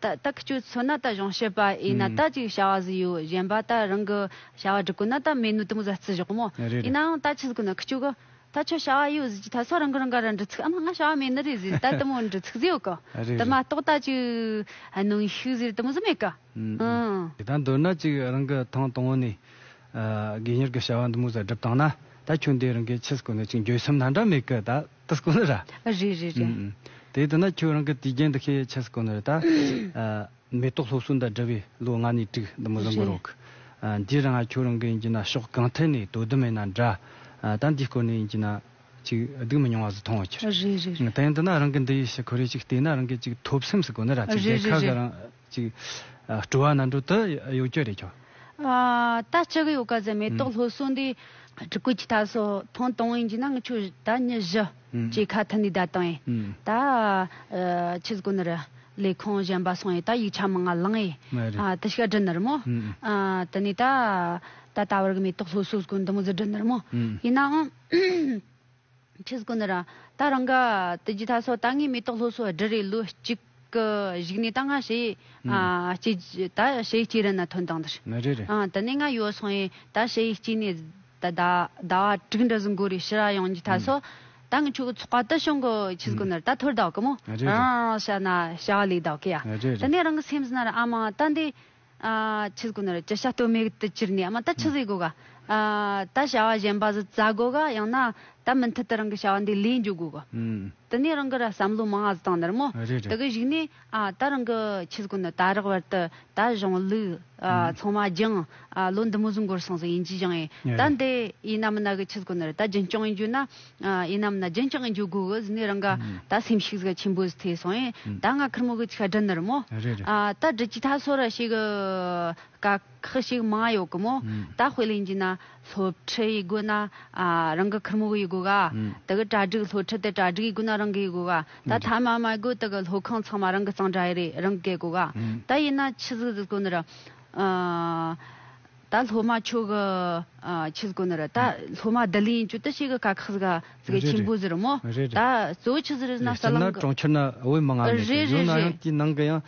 ད་ལྟ་ཁྱོད་མཚོན་ན་ད་གཞུང་བཤད་པ་ཨེ་ན་ད་ཅིག་བྱ་བ་བཟི་ཡོད་གཞན་པ་ད་རང་གི་བྱ་བ་སྒྲུབ་དགོས་ན་ད་མེད་ནུས་དང་བཟའ་རྩི་བཞག་མོ་ཡིན་ནའང་ད་ཆི་ཟིག་ན་ཁྱོད་གི་ད་ཁྱོད་བྱ་བ་ཡོད་བཟི་ཅི་ད་སོ་རང་གི་རང་ག་ར་འདྲི་ཚིག་ཨམ་ང་བྱ་བ་མེད་ནི་རེད་བཟི་ད་དེ་མོ་འདྲི་ཚིག་བཟི་ཡོད་གི་ད་མ་གཏོགས་ད་ཅིག་གནང་ཤིག་བཟི་རེད་དེ་མོ་བཟི་མེད་གི་ཨང། ད་འདོད་ན་ཅིག་རང་གི་ཐང་དང་བོ་ནས་དགེ་གཉེར་གི་བྱ་བ་འདི་མོ་བཟའ་སྒྲུབ་བཏང་ན་ད་ཁྱོད་འདི་རང་གི་ཆི་ཟིག་ན་ཅིག་འགྱོད་སེམས་ན་འདྲ་མེད་གི་ད། ད་སྐོ་ནོ་ར། ཨ་རེད་རེད་རེད། དེ་ལྟ་ན་ཁྱོད་རང་གི་དུས་རྒྱན་འདི་ཁའི་ཆ་སྐོ་ནོ་རེ་ད། མེ་ཏོག་སློབ་གསོ་འདི་འདྲ་བའི་ལོ་ལྔ་ནས་དྲུག་འདི་མི་བཟོ་འགོ་རོགས། འདིར་ཡང་ཁྱོད་རང་གི་ཡིན་གྱི་ན་ཕྱོགས་གང་ཐད་ནས་དོ་དུ་མེད་ན་འདྲ། ད་འདི་སྐོ་ནས་ཡིན་གྱི་ན། ཅིག་སྡུག་མི་མྱོང་བ་ཟིག་མཐོང་འོ་ཁྱོད། ཨ་རེད་རེད་རེད། དེ་ཡིན་དུ་ན་རང་གི་འདི་ཡི་ཕྱི་ཁོ་རེ་ཅིག་བལྟས་ན་རང་གི་ཅིག་ཐོབ་སེམས་སུ་གོ་ནོ་ར་ཅིག་རྒྱལ་ཁབ་ཀྱི་རང། ཅིག། སྤྲོ་བ་ནང་འགྲོ་དུ་གཡོ་སྐྱོ་རེ་ཁྱོ། ད་ཅི་གི་ཡོ་ག་ཟེར་མེ་ཏོག་ལྷོ་སོ་འདི། བྲི་ཀུ་ཅི་ད་སོ་ཐོང་དོང་ཡིན་གྱི་ན་ང་ཆོས་ད་ཉི་བཞི། ཅེས་ཁ་ཐུ་ནི་ད་དང་ཡེ། ད། ཆི་ཟི་ཀུ་ནི་རི། ལས་ཁོང་གཞན་པ་སོང་ཡེ་ད་ཡིག་ཆ་མི་ང་ལང་ཡེ། ད་ཤི་ཀ་དྲི་ནི་རི་མོ། དི་ནི་ད། ད་ད་བར་གི་མེ་ཏོག་ལྷོ་སོ་ཟི་ཀུ་འདི་མོ་ཟི་དྲི་ནི་རི་མོ། ཡིན་ནའང། ཁྲི་ཟ་གོ་ནི་རང་ད་རང་ག་དུ་རྒྱུ་ད་སོ་ད་ངས་མེ་ཏོག་ལྷོ་སོ་སྦྲུ་རེ་ལུ་གཅིག་གི་གཞུག་ནས་ད་ང་ཞེ་གཅིག་རྒྱུ་ད་ཞེ་གཅིག་རི་ན་ཐོན་དང་དར་དུ་ནས་ང་ཡོ་སོང་ཡེ་ད་ཞེ་གཅིག་ནས་ད་ད་བ་དྲུག་འདྲ་ཟུང་གོ་རི་ཕྱི་ར་ཡོང་རྒྱུ་ད་སོ་ད་ང་ཆུ་གི་ཚོགས་ཀ་དུ་བྱུང་གོ་ཁྲི་ཟ་གོ་ནི་ར་ད་ཐོར་ད་གི་མོ་རང་རང་ཞ་ན་ཞ་བ་ལས་ད་གི་ཡ་དུ་ནས་རང་གི་སེམས་ན་ར་ཨ་མ་ད་འདི། ཆུ་དགུ་ནོར་བཅུ་ཤ་སྟོད་མིག་ཏུ་གྱུར་ནས་ད་ཆུ་ཟོས་དགོས་ག། ད་བྱ་བ་གཞན་པ་ཟོས་རྩ་དགོས་ག་ཡང་ན་ད་མུ་མཐུད་དུ་རང་གི་བྱ་བ་འདི་ལས་འཇུག་དགོས་ག། དེ་ནས་རང་གི་ར་བསམ་བློ་མང་ཙང་ནར་མོ། དེ་གི་གཞིགས་ནས་ད་རང་གི་ཆུ་དགུ་ནོར་ད་རག་བར་དུ་ད་གཞུང་ལུགས་ཚང་མ་སྦྱངས། ལོ་འདི་མུ་བཟུང་འགོར་སོང་ཟིག་ཡིན་གྱི་སྦྱངས་ཡིན། ད་འདི་ཡིན་ན་མིན་ན་གི་ཆུ་དགུ་ནོར་ད་རྒྱུན་སྐྱོང་ཡིན་རྒྱུ་ན། ཡིན་ནམ་ན་རྒྱན་རྐྱང་གི་འཇུག་སྒོ་གི་ཟིན་ནས་རང་ག་ད་སེམས་ཤིག་ཟིག་ཆེན་པོ་ཟིག་ཐེ་སོང་ཡིན་ད་ང་ཁར་མོ་གི་ཆིག་ཁ་སྒྲིལ་ནར་མོ་ད་སྒྲིལ་གྱི་ཐ་སོ་ར་ཞིག་ག་ཁག་ཞིག་མང་ཡོག་གི་མོ་ད་དཔེ་ལེན་གྱི་ན་སློབ་ཁྲི་ཡི་སྒོ་ན་རང་གི་ཁར་མོ་གི་ཡི་སྒོ་ག་ད་གི་གྲ་སྒྲིག་སློབ་ཁྲི་དེ་གྲ་སྒྲིག་ཡི་སྒོ་ན་རང་གི་ཡི་སྒོ་ག་ད་ཐ་མ་མ་གོ་ད་གི་སློབ་ཁང་ཚང་མ་རང་གི་གཙང་སྦྲ་ཡི་རེད་རང་གི་སྒོ་ག་ད་ཡིན་ན་ཆི་ཟིག་ཟིག་ཐོ་ནི་ར། ད་སློབ་མ་ཁྱོད་ཀྱི་ཁྱི་གོ་ནི་རེད། ད་སློབ་མ་བདེ་ལེགས་ཡིན་ཁྱོད་ད་ཤེས་ཀྱི་ཀ་ཁག་ཟིག་ག་ཟིག་གི་ཁྱི་འབུ་ཟིག་རེད་མོ། ད་གཙོ་བོ་ཁྱི་ཟིག་རེད་ན་ས་གླང་གི། རེད་སྤྱིར་ན་གྲོང་ཁྱེར་ན་དབུས་མི་ལྔ་མེད་ཀྱི་ཡོད་ན་ཡང་དེའི་ནང་གི་ཡང་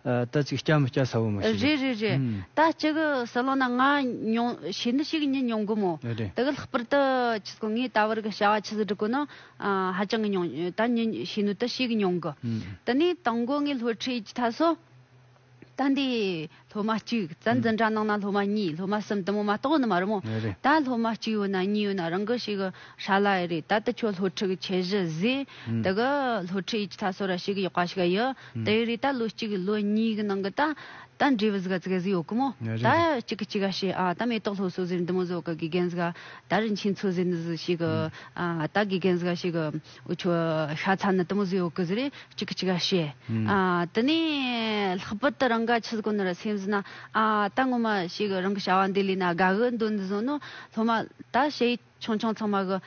ད་ཅིག་སྐྱ་མི་སྐྱ་ས་བོན་མོ་ཞིག་རེད། རེད་རེད་རེད་ད་སྤྱི་གི་ས་གླང་ན་ང་མྱོང་ཤེས་ནི་ཞིག་ཉིད་མྱོང་གི་མོ། ད་གི་ལྷག་པར་དུ་ཁྱི་གོ་ངའི་ལྟ་བར་གི་བྱ་བ་ཁྱི་ཟིག་འགྲིག་གོ་ནི་ཧ་ཅང་གི་མྱོང་ད་ཉིད་ཤེས་ནི་ད་ཤེས་གི་མྱོང་གི། ད་ནི་དང་གོ་ངའི་སློབ་ཁྲིད་ཀྱི་ཐ་སོ། ད་འདི་སློབ་མ་གཅིག་བཙན་འཛིན་གྲྭ་ནང་ན་སློབ་མ་གཉིས་སློབ་མ་གསུམ་དུ་མོ་མ་གཏོགས་ནི་མ་རུང་ངོ། ད་སློབ་མ་གཅིག་ཡོད་ན་གཉིས་ཡོད་ན་རང་གི་ཞིག་གི་ཧྲ་ལ་ཡི་རེད་ད་དུ་ཁྱོད་སློབ་ཁྲིད་ཀྱི་ཁྱད་གཞི་བཟོས་དེ་གི་སློབ་ཁྲིད་ཡིད་ཆ་སོ་ར་བྱེད་གི་ཡོད་པ་ཞིག་ཡི་དེ་ཡི་རེད་ད་ལོ་གཅིག་གི་ལོ་གཉིས་གི་ནང་གི་ད་ད་འབྲས་བུ་ཟིག་ག་ཟིག་ཡོད་གི་མོ་ད་གཅིག་གི་གཅིག་ག་བྱས་ཨ་ད་མེ་ཏོག་ལྷོ་སོ་ཟེར་འདི་མོ་བཟོ་གི་དགེ་རྒན་ཟིག་ག་ད་རིན་ཆེན་འཚོ་ཟེར་འདི་ཟིག་ཞིག་གི་ཨ་ད་དགེ་རྒན་ཟིག་ག་ཞིག་གི། ཁྱོད་ཤ་ཚ་ནི་དུམ་བུ་ཟེའུ་ཀི་ཟེར་རེ་གཅིག་གཅིག་ག་བྱེད། དེ་ནས་ལྷག་པར་དུ་རང་ག་ཆུ་དཀོན་ནོ་ར་སེམས་ཟིན་ན། ཨ་ད་ངོ་མ་ཞིག་རང་གི་བྱ་བ་འདི་ལས་ན་དགའ་གི་འདུག་འདི་བཟུང་ནོ་སློབ་མ་ད་བྱེད་ཆུང་ཆུང་ཚང་མ་གི་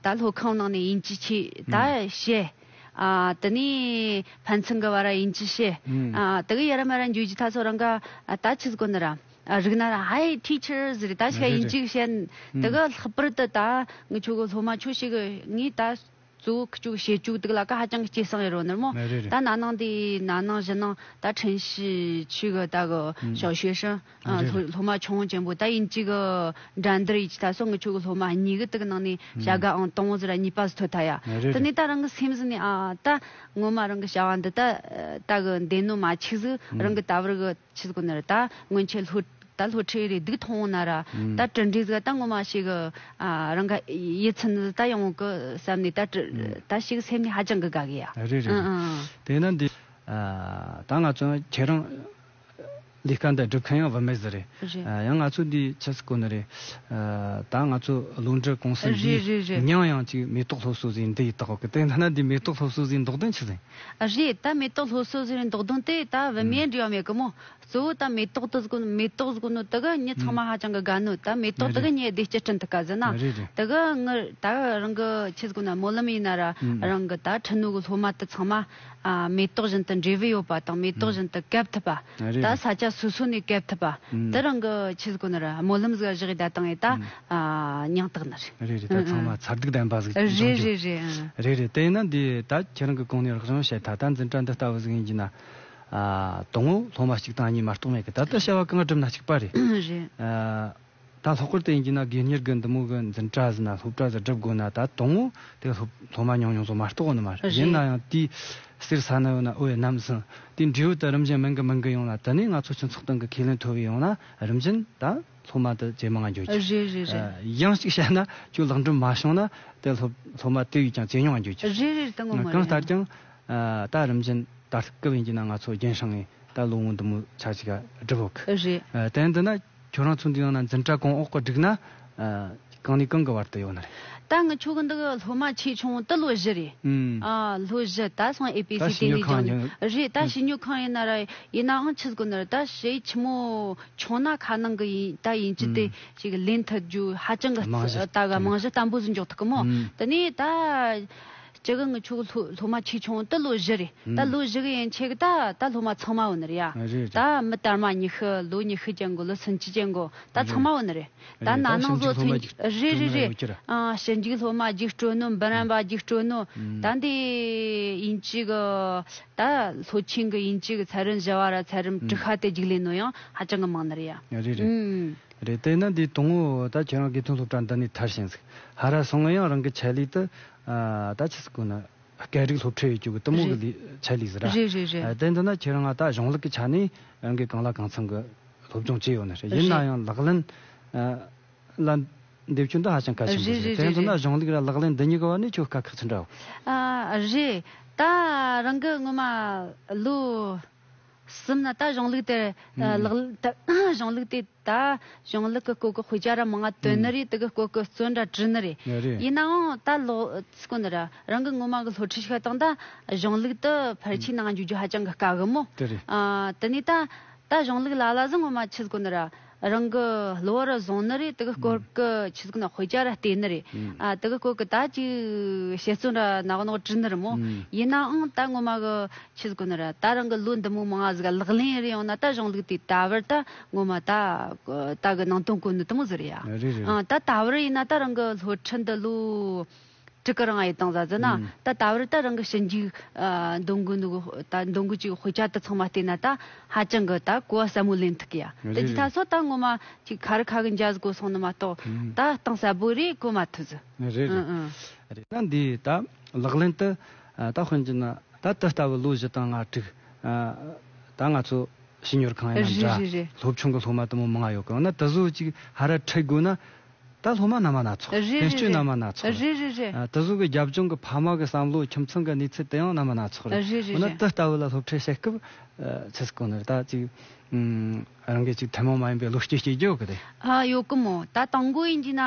ད་ལྷོ་ཁང་ནང་ནས་ཡིན་གྱི་ཆི་ད་བྱེད། དེ་ནས་ཕན་ཚུན་གི་བར་ཡིན་གྱི་ཆི་དེ་གི་ཡ་ར་མ་ར་འཇུས་ཀྱི་ད་སོ་རང་ག་ད་ཆུ་དཀོན་ནོ་ར། རིག་ན་ཧའེ Teachers རེད་ད་ཞིག་ཡིན་ཅིག་བཤད་འདུག་གི་ལྷག་པར་དུ་ད་ངི་ཆོ་གི་སློབ་མ་ཆོ་ཞིག་ངིས་ད་གཙོ་བོ་ཁི་ཆོ་གི་བཤད་བཅུག་འདུག་ལ་ཀ་ཧ་ཅང་གི་སྐྱེ་སངས་ཡི་རོ་ནི་མོ་ད་ན་ནང་དེ་ན་ནང་བཞི་ནང་ད་ཁྲེན་ཞི་ཆུས་གི་ད་གི་ཞའོ་ཞུའེ་ཧྲིན་སློབ་མ་ཆུང་ཆེན་པོ་ད་ཡིན་ཅིག་གི་འགྲན་བསྡུར་ཡིན་ཅིག་ད་སོ་ངི་ཆོ་གི་སློབ་མ་གཉིས་གི་དུ་གི་ནང་ནས་བྱ་དགའ་ཨང་སྟོང་བཟོ་ར་གཉིས་པ་བཟོ་ཐུ་ད་ཡ་དེ་ནས་ད་རང་གི་སེམས་ཟིན་ནས་ཨ་ད་ངོ་མ་རང་གི་བྱ་བ་འདི་ད་ད་གི་འདེ་ནོ་མ་ཆིག་ཟིག་རང་གི་ད་བར་གི། ཆིས་གོ་ནར་ད་སྔོན་ཆད་ལྷོ། ད་ལྷོ་ཁྲའི་རེ་སྡིག་མཐོང་བོ་ན་ར། ད་དྲིན་རིས་ག་ད་ངོ་མ་ཞིག། རང་ག་ཡི་ཚུན་ད་ཡོང་བོ་གི་བསམ་ནས་ད། ད་ཞིག་སེམས་ནི་ཧ་ཅང་གི་དགའ་གི་ཡ། རེད་རེད་རེད། དེས་ན་འདི། ད་ང་ཚོ་ཁྱེད་རང། ལས་ཀ་འདི་སྒྲུབ་མཁན་ཡང་བུད་མེད་ཟིག་རེད། ཡང་ང་ཚོ་འདིས་ཆིས་གོ་ནི་རེད། ད་ང་ཚོ་ལུང་འདྲི་ཀུང་སི་འདིས། ཉང་ཡང་ཅིག་མེ་ཏོག་སློབ་གསོ་ཟིག་འདི་ཡི་དག་གི་དེ་ན་འདི་མེ་ཏོག་སློབ་གསོ་ཟིག་འདོགས་དོན་ཆིས། རེད་ད་མེ་ཏོག་ལྷོ་སོལ་ཟེར་བའི་མདོག་དོན་དེ་ད་བི་མའི་འབྲི་བ་མེད་གི་མོད་གཙོ་བོ་ད་མེ་ཏོག་དུ་མེ་ཏོག་གཟུགས་ནོ་དེ་ག་ཉི་ཚང་མ་ཧ་ཅང་གི་དགའ་ནོ་ད་མེ་ཏོག་དེ་ག་ཉི་བདེ་སྐྱིད་སྤྲིན་དུ་ག་ཟེར་ན་དེ་ག་ངི་ད་རང་གི་ཁྱི་གཟུགས་ན་མོ་ལམ་ཡིན་ན་ར་རང་གི་ད་ཁྲི་ནུ་གི་ལྷོ་མ་དེ་ཚང་མ་མེ་ཏོག་བཞིན་དུ་འབྲས་བུ་ཡོད་པ་དང་མེ་ཏོག་བཞིན་དུ་གབ་ཐུབ་པ་ད་ས་སྐྱ་སོ་སོ་ནས་གབ་ཐུབ་པ་དེ་རང་གི་ཁྱི་གཟུགས་ན་ར་མོ་ལམ་གཟུགས་གཞག་ཡི་ད་དང་ཡི་ད་མྱང་སྟག་ནི་རེད། རེད་རེད་ད་ཚང་མ་མཚར་སྡུག་ལྡན་པ་ཟིག་ཅིག་བྱུང་རྒྱུ། རེད་རེད་རེད་ཨང། རེད་རེད་དེ་ཡིན་ན་འདི་ད་ཁྱེད་རང་གི་གོང་ནས་རག་བྱུང་བཤད་ད་ལྟ་འཛིན་གྲྭ་འདི་ལྟ་བུ་ཟིག་ཡིན་གྱི་ན། དོང་ངོ་ལྷོ་མ་གཅིག་དང་གཉིས་མ་རྟོགས་མེད་གི་ད་ལྟ་བཤད་བ་གང་སྒྲུབ་ན་གཅིག་པ་རེད། རེད། ད་ལྷག་སྐོར་དེ་ཡིན་གྱི་ན་དགེ་གཉེར་གི་འདི་མོ་གི་འཛིན་གྲྭ་ཟིག་ན་སློབ་གྲྭ་ཟིག་སྒྲུབ་དགོས་ན་ད་དོང་ངོ་དེ་ལྷོ་མ་ཉུང་ཉུང་ཟོ་མ་རྟོགས་གི་ནི་མ་རེད་ཡིན་ན་ཡང་དེའི་གསེར་ས་ནི་ཡོད་ན་ཨོ་ཡེ་ནམ་ཟིན་དེའི་འབྲེལ་ཡོད་དུ་རིམ་བཞིན་མིང་གི་མིང་གི་ཡོང་ན་དེ་ནས་ང་ཚོ་སྤྱི་ཚོགས་སྟེང་གི་ཁས་ལེན་མཐོ་བའི་ཡོང་ན་རིམ་བཞིན་ད། ཚོགས་མ་དུ་བྱེད་མི་ང་འགྱུར་གྱི། རེད་རེད་རེད། གཞན་ཞིག་བྱས་ན་ཁྱོད་ལག་འགྲོ་མ་བྱུང་ན་དེ་སློབ་མ་དེ་ཡིས་ཀྱང་བྱེད་མྱོང་ང་འགྱུར་གྱི། རེད་རེད་ད་ངོ་མ་རེད། གང་ལྟར་ཀྱང། ད་རིམ་བཞིན་ད་སྐབས་ཡིན་གྱི་ན་ང་ཚོ་རྒྱན་ཧྲང་ངས་ད་ལོ་ངོ་འདི་མོ་ཆ་ཅིག་བསྒྲུབ་འོག་གི། རེད། དེ་འདི་ན་ཁྱོད་རང་ཚོ་འདི་ཡང་ན་འཛིན་གྲྭ་གོང་འོག་གི་བསྒྲིགས་ན། གང་ནས་གང་གི་བར་དུ་ཡོད་ན་རེད། ད་ངའི་ཆོ་ག་འདི་གི་སློབ་མ་ཆེ་ཆུང་དུ་ལོ་བཞི་རེད། ལོ་བཞི་ད་སང་ཨེ་པེ་སི་ཏེ་ལི་ཇང་རེད་ད་ཞིབ་ཉོ་ཁང་ཡིན་ན་ར་ཡིན་ནའང་ཆུ་ཟགོ་ན་རེད་ད་ཞེ་ཆི་མོ་ཆུང་ན་ཁ་ནང་གི་ཡིན་ད་ཡིན་ཅི་དེ་ཞིག་ལེན་ཐུབ་རྒྱུ་ཧ་ཅང་གི་ད་ག་རྨང་གཞི་བརྟན་པོ་ཟིག་འཇོག་ཐུབ་གི་མོ་དེ་ནས་ད་ཅི་གི་ངའི་ཆོ་ག་སློབ་མ་ཆེ་ཆུང་དུ་ལོ་བཞི་རེད་ད་ལོ་བཞི་གི་ཡན་ཆད་གི་ད་ད་སློབ་མ་ཚང་མ་ཡོད་ན་རེད་ཡ་ད་མི་དར་མ་ཉི་ཤུ་ལོ་ཉི་ཤུ་ཅན་གོ་ལོ་སུམ་ཅུ་ཅན་གོ་ད་ཚང་མ་ཡོད་ན་རེད། ད་ནང་ནང་བཟོ་ཚོན། རེད་རེད་རེད། ཞིབ་འཇུག་སློབ་མ་རྒྱུགས་སྤྲོད་ནོ་འབུམ་རམས་པ་རྒྱུགས་སྤྲོད་ནོ། ད་འདི་ཡིན་གཅིག་གི། ད་ལྷོ་ཆིང་གི་ཡིན་གཅིག་ཚལ་རིན་བཞི་བ་ར་ཚལ་རིམ་གྲུ་ཤ་སྟེ་རྒྱུགས་ལེན་ནོ་ཡང་ཧ་ཅང་གི་མང་ནི་རེད་ཡ། རེད་རེད། རེད་དེ་ནི་འདི་དང་བོ་ད་ཁྱེད་རང་དགེ་ཐོན་སློབ་གྲྭ་འདི་ནས་ཐར་ཞིང་ཟིག་ཧ་ར་སོང་ང་ཡང་རང་གི་ཆད་ལུས་དུ། ད་ཆི་སི་ཀུ་ནི། སྐད་རིགས་སློབ་ཁྲིད་ཡོད་གྱུག་གི་གཏི་མུག་གི་ལུས་ཆད་ལུས་ཟིག་ར། རེད་རེད་རེད། དེ་འདི་ན་ཁྱེད་རང་ང་ད་གཞུང་ལུགས་ཀྱི་ཆ་ནས་རང་གི་གང་ལ་གང་འཚམ་གི། སློབ་སྦྱོང་བྱས་ཡོད་ནི་རེད། ཡིན་ན་ཡང་ལག་ལེན་ལ་འདེབས་རྒྱུ་འདི་ཧ་ཅང་གལ་ཆེན་པོ་རེད། དེ་མཚོན་ན་གཞུང་ལུགས་ལ་ལག་ལེན་འདི་གཉིས་ཀྱི་བར་ནས་ཆོས་དཀའ་ཁག་ཆེན་འདྲ་བོ། རེད། ད་རང་གི་སྔོན་མ་ལོ་གསུམ་ན་ད་གཞུང་ལུགས་དེར་ལག་གཞུང་ལུགས་དེ་ད་གཞུང་ལུགས་ཀྱི་སྐོར་གྱི་དཔེ་ཆ་ར་མང་ང་བཏོན་ནི་རེད་དེ་གི་སྐོར་གྱི་བརྩོན་འདྲ་བྲིས་ནི་རེད། ཡིན་ན་འང་ད་ལོ་སྐོར་འདི་ར་རང་གི་སྔོན་མ་གི་སློབ་ཁྲིད་ཤིག་ལ་བཏང་ད་གཞུང་ལུགས་དེ་ཕར་ཕྱིན་གནང་རྒྱུ་རྒྱུ་ཧ་ཅང་གི་དཀའ་གི་མོད། དེ་ནས་ད། ད་གཞུང་ལུགས་ལ་ལ་ཟིན་ངོ་མ་ཆུ་དཀོན་ནི་ར། རང་གི་གླུ་བ་རུ་བཟུང་ནི་རེད་དེ་གི་སྐོར་གི་ཆུ་དཀོན་དཔེ་ཆ་ར་བལྟས་ནི་རེད། དེ་གི་སྐོར་གི་ད་ཅིག་བཤད་བརྩོན་ར་ནག་ནོག་བྲིས་ནི་རེད་མོ། ཡིན་ནའང་ད་ངོ་མ་གི་ཆུ་དཀོན་ནི་ར་ད་རང་གི་གླུ་འདི་མོ་མང་ང་ཟིག་ལག་ལེན་རེད་ཡོང་ན་ད་གཞུང་ལུགས་དེ་ད་བར་ད་ངོ་མ་ད་ད་གི་ནང་དོན་གོ་ནི་དེ་མོ་ཟིག་རེད་ཡ། ད་ད་བར་ཡིན་ན་ད་རང་གི་ལྷོ་ཁྲི་འདི་གླུ། སྤྲུལ་སྐུ་རང་ཨ་ཡེ་དང་བཟའ་ཟིན་ན་ད་ལྟ་བར་ད་རང་གི་ཞི་འཇིགས་འདོན་དགོས་འདུག་ད་འདོན་དགོས་ཅིག་དཔེ་ཆ་དེ་ཚང་མ་བལྟས་ན་ད་ཧ་ཅང་གི་ད་གོ་བ་ཟབ་མོ་ལེན་ཐུག་གི་ཡ་ད་འདི་ད་སོ་ད་ངོ་མ་ཅིག་ཁ་རི་ཁ་གི་འཇའ་ཟི་གོ་སོང་ནི་མ་གཏོགས་ད་གཏིང་ཟབ་པོ་རེ་གོ་མ་ཐུབ་ཟི་ཨང་ཨང། འདིའི་ད་ལག་ལེན་དུ་ད་དཔོན་གྱི་ན་ད་དེ་ལྟ་བུ་ལོ་བཞི་དང་ང་དྲུག་ད་ང་ཚོ་ཞི་ཉོར་ཁང་ཡིན་ན་འདྲ་སློབ་ཆུང་གི་སློབ་མ་དུ་མོ་མང་ཡོད་གི་ཨང་ན་དེ་བཟོ་ཅིག་ཧ་ར་ཁྲིད་དགོས་ན། ད་སློབ་མ་རྣམས་མ་ན་ཚོགས། རེ་རེ་རེ། བེད་སྤྱོད་རྣམས་མ་ན་ཚོགས། རེ་རེ་རེ། ད་གཟུགས་ཀྱི་རྒྱབ་ལྗོངས་ཀྱི་ཕ་མ་གི་བསམ་བློའི་ཁྱིམ་ཚང་གི་གནས་ཚུལ་དེ་ཡང་རྣམས་མ་ན་ཚོགས་རེད། རེ་རེ་འོ་ན་རེ། འདི་ལྟ་བུ་ལ་སློབ་ཁྲིད་བྱེད་སྐབས། ཕྱི་སྐོར་ནས་ད་གཅིག། རང་གི་གཅིག་ཐུན་མོང་མ་ཡིན་པའི་བློ་སྐྱེད་སྐྱེ་རྒྱུ་ཡོད་གི་རེད། ཡོད་གི་མོད་ད་དང་པོ་ཡིན་གྱི་ན།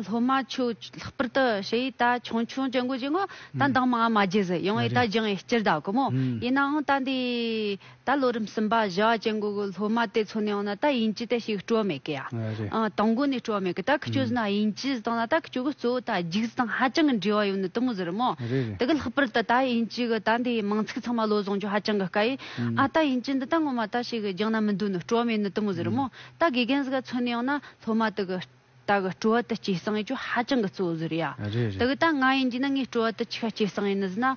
སློབ་མ་ཁྱོད་ལྷག་པར་དུ་ཞེ་ཡིས་ད་ཆུང་ཆུང་བྱེད་འགོ་བྱེད་འགོ། ད་འདང་མ་ང་མ་བརྗེད་ཟེར་ཡོང་བས་ད་སྦྱང་ཡས་སྤྱིར་བདག་གི་མོད། ཡིན་ནའང་ད་འདི། ད་ལོ་རིམ་གསུམ་པ་བཞི་བ་ཅན་གྱི་སློབ་མ་དེ་ཚོ་ནས་ཡང་ན་ད་ཡིན་གྱི་དེ་ཞིག་སྤྲོད་མེད་གི། དང་པོ་ནས་སྤྲོད་མེད་གི་ད་ཁྱོད་བཟོས་ན་ཡིན་གྱི་བཟོས་དང་ལ་ད་ཁྱོད་གྱི་གཙོ་བོ་ད་རྒྱུགས་གཟི་དང་ཧ་ཅང་གི་འབྲེལ་བ་ཡོད་ནི་དུ་མ་བཟོས་རི་མོ། དེ་གི་ལྷག་པར་ད་ད་ཡིན་གྱི་གི་ད་འདི་མང་ཚིག་ཚང་མ་བློ་བཟང་གྱོ་ཧ་ཅང་གི་དཀའ་ཡི། ཨ་ད་ཡིན་གྱི་འདི་ད་ངོ་མ་ད་ཞིག་གི་རྒྱང་ན་མི་འདུག་ནི་སྤྲོད་མེད་ནི་དུ་མ་བཟོས་རི་མོ། ད་དགེ་རྒན་གཟི་ག་ཚོ་ནས་ཡང་ན་སློབ་མ་དེ་གི། ད་གི་སྤྲོ་བ་དུ་སྐྱེས་སང་ཡེ་ཅོ་ཧ་ཅང་གི་གཙོ་བཟུར་ཡ། རེད་རེད། ད་གི་ད་ང་ཡིན་གྱི་ན་ངའི་སྤྲོ་བ་དུ་ཆི་ཁ་སྐྱེས་སང་ཡེ་ནི་ཟི་ན།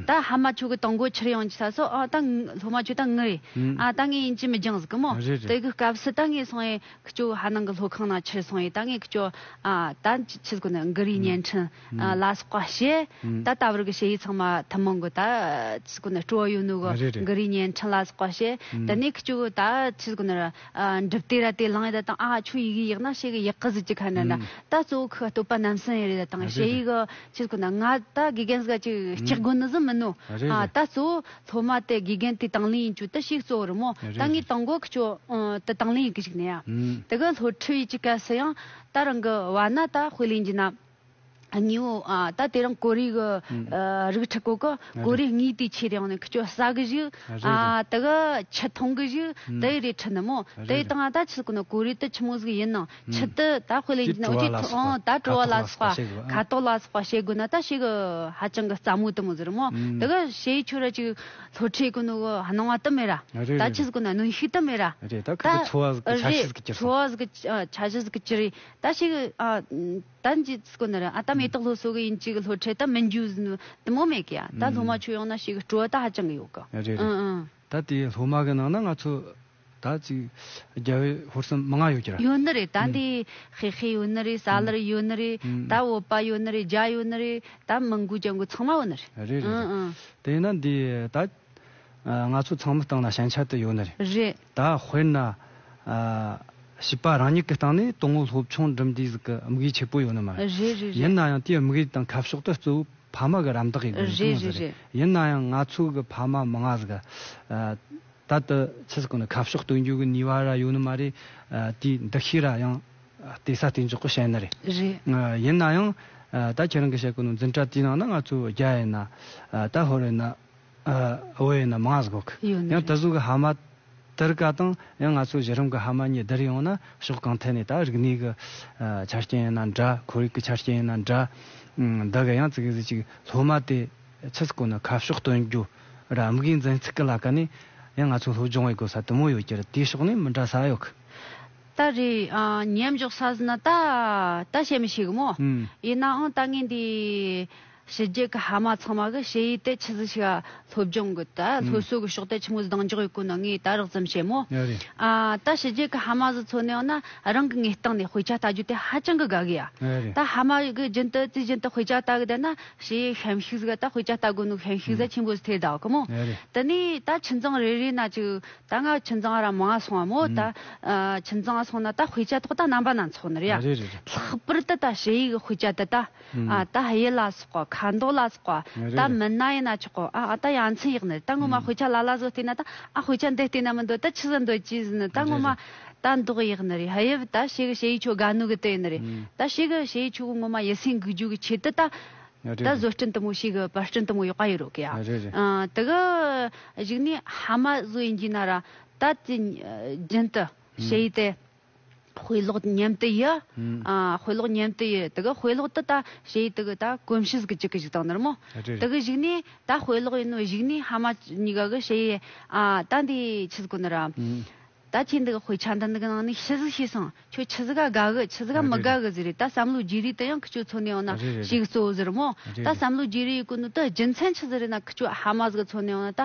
ད་ཧ་མ་ཆོ་གི་དང་གོ་ཆིར་ཡང་གྱི་ས་སོ་ཨ་ད་སློ་མ་ཆོ་ད་ངི་རེད་ཨ་ད་ངའི་ཡིན་གྱི་མི་འགྱང་ཟི་གི་མོ། རེད་རེད། ད་གི་སྐབས་སི་ད་ངའི་སང་ཡེ་ཁི་ཅོ་ཧ་ནང་གི་སློ་ཁང་ན་ཆིར་སང་ཡེ་ད་ངའི་ཁི་ཅོ་ཨ་ད་ཆི་ཟི་གོ་ནི་འགི་རི་བརྙན་འཕྲིན། ལ་སོགས་པ་བཤད། ད་ལྟ་བར་གྱི་བཤད་ཡིག་ཚང་མ་ཐུན་མོང་གི་ད་ཕྱི་གོ་ནི་སྤྲོ་ཡུལ་ནུ་གོ་འགུ་རི་བརྙན་འཕྲིན་ལ་སོགས་པ་བཤད། དེ་ནས་ཁི་ཅུ་གི་ད་ཕྱི་གོ་ནི་ར་འགྲུབ་དེ་ར་དེ་ལངས་ཡི་ད་དང་ཨ་ཆུ་ཡི་གི་ཡིག་ན་བཤད་གི་ཡིག་གི་ཟིག་ཅིག་ཁ་ན་ད་ད་གཙོ་བོ་ཁི་སྟོད་པ་རྣམ་སྲས་ཡི་རི་ད་དང་བཤད་ཡིག་གི་ཕྱི་གོ་ནི་ང་ད་དགེ་རྒན་ཟིག་ཅིག་སྐྱག་དགོན་ནི་ཟིག་མིན་ནོ། ད་གཙོ་བོ་སློབ་མ་དེ་དགེ་རྒན་དེ་དང་ལེན་ཡིན་ཅུ་དི་ཞིག་གཙོ་བོ་རི་མོ་ད་ངའི་དང་གོ་ཁི་ཅུ་དི་དང་ལེན་ཡི་གི་ཞིག་ནི་ཡ། དེ་གི་སློབ་ཁྲི་ཡི་གི་གལ་སྲིད་ཡང་ད་རང་གི་བ་ན་ད་དཔེ་ལེན་གྱི་ན། ཉིའོ། ད་དེ་རིང་གོ་རིག་གི་རིགས་ཁྲི་གོ་གི་གོ་རིག་གཉིས་དུས་ཆེད་ཡོང་ནས་ཁྱོད་ཟ་གི་བཞུགས། དེ་གི་ཆུ་འཐུང་གི་བཞུགས་དེ་རེད་ཁྲི་ནི་མོ། དེ་དང་ད་ཆུ་གི་ནི་གོ་རིག་ཏུ་ཆུ་མོ་ཟིག་ཡིན་ནང་ཆུ་དེ་ད་དཔེ་ལེན་གྱི་ནི་འོ་ཅོས་ཐོ་ད་བྲོ་བ་ལ་སོགས་པ་ཁ་དོག་ལ་སོགས་པ་བྱེད་དགོས་ན་ད་བྱེད་གི་ཧ་ཅང་གི་རྩ་མོ་དུ་མོ་ཟེར་མོ། དེ་གི་བྱེད་ཡུལ་ཆོས་ར་ཅིག་ལྷོ་ཁྲིད་གི་ནི་གི་སྣང་བ་དུ་མེད་ར། ད་ཆུ་ཟིག་གི་ནི་གནོན་ཤུགས་དུ་མེད་ར། རེད་ད་ཁ་གི་འཚོ་བ་ཟིག་གི་ཆ་ཤས་ཟིག་གི་གྱེར་སོང། འཚོ་བ་ཟིག་གི་ཆ་ཤས་ཟིག་གི་གྱེར། ད་ཞིག། ད་འཇིག་དགོས་ན་རང་ཨ་ད་མེ་ཏོག་ལྷོ་སོ་གི་ཡིན་གཅིག་ལྷོ་འཕྲེད་ད་མི་འཇུ་དུ་མོ་མེད་གི་ཡ་ད་ལྷོ་མ་ཆུ་ཡོང་ན་ཞིག་སྤྲོ་བ་ད་ཧ་ཅང་གི་ཡོད་གི། རེད་རེད་ད་དེ་ལྷོ་མ་གི་ནང་ན་ང་ཚོ་ད་ཅིག་རྒྱ་བོད་ཧོར་གསུམ་མི་ང་ཡོད་གི་ར། ཡོད་ནི་རེད་ད་འདི་ཧེ་ཧེ་ཡོད་ནི་རེད་ས་ལར་ཡོད་ནི་རེད་ད་བོད་པ་ཡོད་ནི་རེད་རྒྱ་ཡོད་ནི་རེད་ད་མང་གུ་ཅང་གུ་ཚང་མ་ཡོད་ནི་རེད། རེད་རེད་རེད་དེ་ཡིན་ན་འདི་ད། ང་ཚོ་ཚང་མི་སྟེང་ལ་ཞན་ཆ་དེ་ཡོད་ནི་རེད། རེད། ད་དཔེར་ན། བྱིས་པ་རང་ཉིད་ཀྱི་སྟེང་ནས་དོན་དངོས་སློབ་ཆུང་འགྲིམ་དུས་ཀྱི་དམིགས་ཡུལ་ཆེ་པོ་ཡོད་ནི་མ་རེད། རེད་རེད་ཡིན་རེད། ན་ཡང་དེའི་དམིགས་ཡུལ་དང་ཁ་ཕྱོགས་དེ་གཙོ་བོ་ཕ་མ་གི་རམ་འདེགས་ཀྱི་དགོས་མཁོ་རེད་ཡོད་རེད་རེད། རེད། ཡིན་ན་ཡང་ང་ཚོ་གི་ཕ་མ་མི་ངག་གི། ད་དུ་ཕྱི་ཟུར་ཀུན་ནས་ཁ་ཕྱོགས་སྟོན་རྒྱུ་གི་ནུས་བ་ར་ཡོད་ནི་མ་རེད། དེའི་འདུ་ཤེས་ར་ཡང། དེ་སྲ་བརྟན་འཇོག་གི་བྱེད་ནི་རེད། རེད། ཡིན་ན་ཡང། ད་ཁྱེད་རང་གིས་བཤད་ཀྱི་ནོར་འཛིན་གྲྭ་དེའི་ནང་ན་ང་ཚོ་བརྒྱ་ཡིན་ན། ད་ཧོར་ཡིན་ན། བོད་ཡིན་ན་མ་ང་ཟིག་གོ་ཁི། ཡང་ད་གཟུགས་ཀྱི་ཧ་མ་དར་ཀ་དང་ཡང་ང་ཚོ་གཞི་རིམ་གྱི་ཧ་མ་གཉིས་དར་ཡོང་ན་ཕྱོགས་གང་ཐད་ནས་ད་རིག་གནས་ཀྱི་ཆ་རྐྱེན་ཡིན་ན་འདྲ་ཁོར་ཡུག་གྱི་ཆ་རྐྱེན་ཡིན་ན་འདྲ། འདི་ག་ཡང་ཙི་གི་ཟིག་ཅིག་སློབ་མ་དེ་ཚིག་སྐོར་ནི་ཁ་ཕྱོགས་སྟོན་རྒྱུ་ར་དམིགས་ཡིན་འཛིན་ཚིག་གི་ལ་ཀ་ནས་ཡང་ང་ཚོ་སློབ་སྦྱོང་བའི་གོ་ས་དུ་མོ་ཡོད་ཀྱི་རེད་དེའི་ཕྱོགས་ནས་མི་འདྲ་ས་ཡོད་ཁི། ད་རེ་ཉན་འཇོག་ས་ཟིན་ན་ད་ད་བྱེད་མི་ཤེས་གི་མོ། ཡིན་ནའང་ད་ངས་འདི། ཕྱི་རྒྱལ་གྱི་ཧ་མ་ཚང་མ་གི་ཕྱི་ཡུལ་དེ་ཆི་ཟིག་ཤི་ཧ་སློབ་སྦྱོང་གི་ད་སློབ་གསོ་གི་ཕྱོགས་ཐད་ཆི་མོ་ཟི་གདང་འཇོག་ཡོད་ཁོ་ན་ངས་ད་རགས་ཙམ་བཤད་མོ། ད་ཕྱི་རྒྱལ་གྱི་ཧ་མ་ཟི་ཚོ་ནི་ཡང་ན་རང་གི་ངའི་སྟེང་ནས་དཔེ་ཆ་ལྟ་རྒྱུ་དེ་ཧ་ཅང་གི་དགའ་གི་ཡ། ད་ཧ་མ་གི་རྒྱུན་དུ་རྩིས་རྒྱུན་དུ་དཔེ་ཆ་ལྟ་གི་བསྡད་ན་ཕྱི་ཡུལ་ཧེམ་ཤིག་ཟི་ག་ད་དཔེ་ཆ་ལྟ་དགོས་ནུག་ཧེམ་ཤིག་ཟ་ཆེན་པོ་ཟི་ཐེ་ད་གི་མོ། དེ་ནས་ད་ཁྱིམ་ཚང་རེ་རེ་ན་ཅིག་ད་ང་ཁྱིམ་ཚང་ར་མང་སོང་བ་མོ་ད་ཁྱིམ་ཚང་སོང་ན་ད་དཔེ་ཆ་ཐོག་ད་རྣམ་པ་སྣ་ཚོགས་ནི་རེ་ཡ། ལྷག་པར་དུ་ད་ཕྱི་ཡུལ་གྱི་དཔེ་ཆ་དེ་ད། ད་གཡུལ་ལ་སོགས་པ་ཁ་མདོག་ལ་སོགས་པ་ད་མིན་ན་ཡིན་ན་ཆོག་གོ་ཨ་ད་ཡ་མཚན་ཡག་ནི་ད་ངོ་མ་དཔེ་ཆ་ལ་ལ་བཟོ་ལྟས་ན་ད་ཨ་དཔེ་ཆ་འདི་ལྟས་ན་མི་འདོད་ད་ཆི་ཟི་འདོད་ཀྱི་ཟི་ནི་ད་ངོ་མ་ད་འདོག་ཡག་ནི་རེད་དབྱིབས་ད་ཕྱི་གི་ཕྱི་ཡི་ཆོ་ག་ནུ་གི་དེ་ནི་རེད་ད་ཕྱི་གི་ཕྱི་ཡི་ཆོ་ག་ངོ་མ་ཡི་སེང་གི་རྒྱུ་གི་ཆེད་དུ་ད་ད་བཟོ་སྐྲུན་དུ་མོ་ཕྱི་གི་བར་སྐྲུན་དུ་མོ་ཡོད་པ་ཡོད་རོགས་གི་ཡ་དེ་གི་གཞིག་ནས་ཧ་མ་བཟོ་ཡིན་གྱི་ན་ར་ད་དེ་རྒྱུན་དུ་ཕྱི་ཡི་དེ། དཔེ་ཀློག་མཉམ་དུ་ཡི། དཔེ་ཀློག་མཉམ་དུ་ཡི། དེ་གི་དཔེ་ཀློག་དུ་ད་ཞེ་ཡི་དེ་གི་ད་གོམས་ཤིས་ཀྱི་ཅིག་གི་ཞིག་དང་ནོར་མོ། དེ་གི་གཞིག་ནས་ད་དཔེ་ཀློག་ཡིན་ནོ་གཞིག་ནས་ཧ་མ་གཉིས་ཀ་གི་ཞེ་ཡི་ད་འདི་ཆི་ཟིག་གོ་ནོར་ར། ད་ཁྱེད་འདི་གི་དཔེ་ཆ་འདི་འདི་གི་ནང་ནས་ཤི་ཟིག་ཤེས་སོང་ཁྱོད་ཆི་ཟིག་ག་དགའ་གི་ཆི་ཟིག་ག་མི་དགའ་གི་ཟེར་རེད་ད་བསམ་བློ་རྒྱས་རིས་དེ་ཡང་ཁི་ཅོ་འཚོ་ནས་ཡོང་ན་ཞིག་གཙོ་བོ་ཟེར་རོ་མོ། ད་བསམ་བློ་རྒྱས་རིས་ཡི་གོ་ནོར་དུ་རྒྱུ་མཚན་ཆི་ཟེར་རེད་ན་ཁི་ཅོ་ཧ་མ་ཟིག་གི་འཚོ་ནས་ཡོང་ན་ད་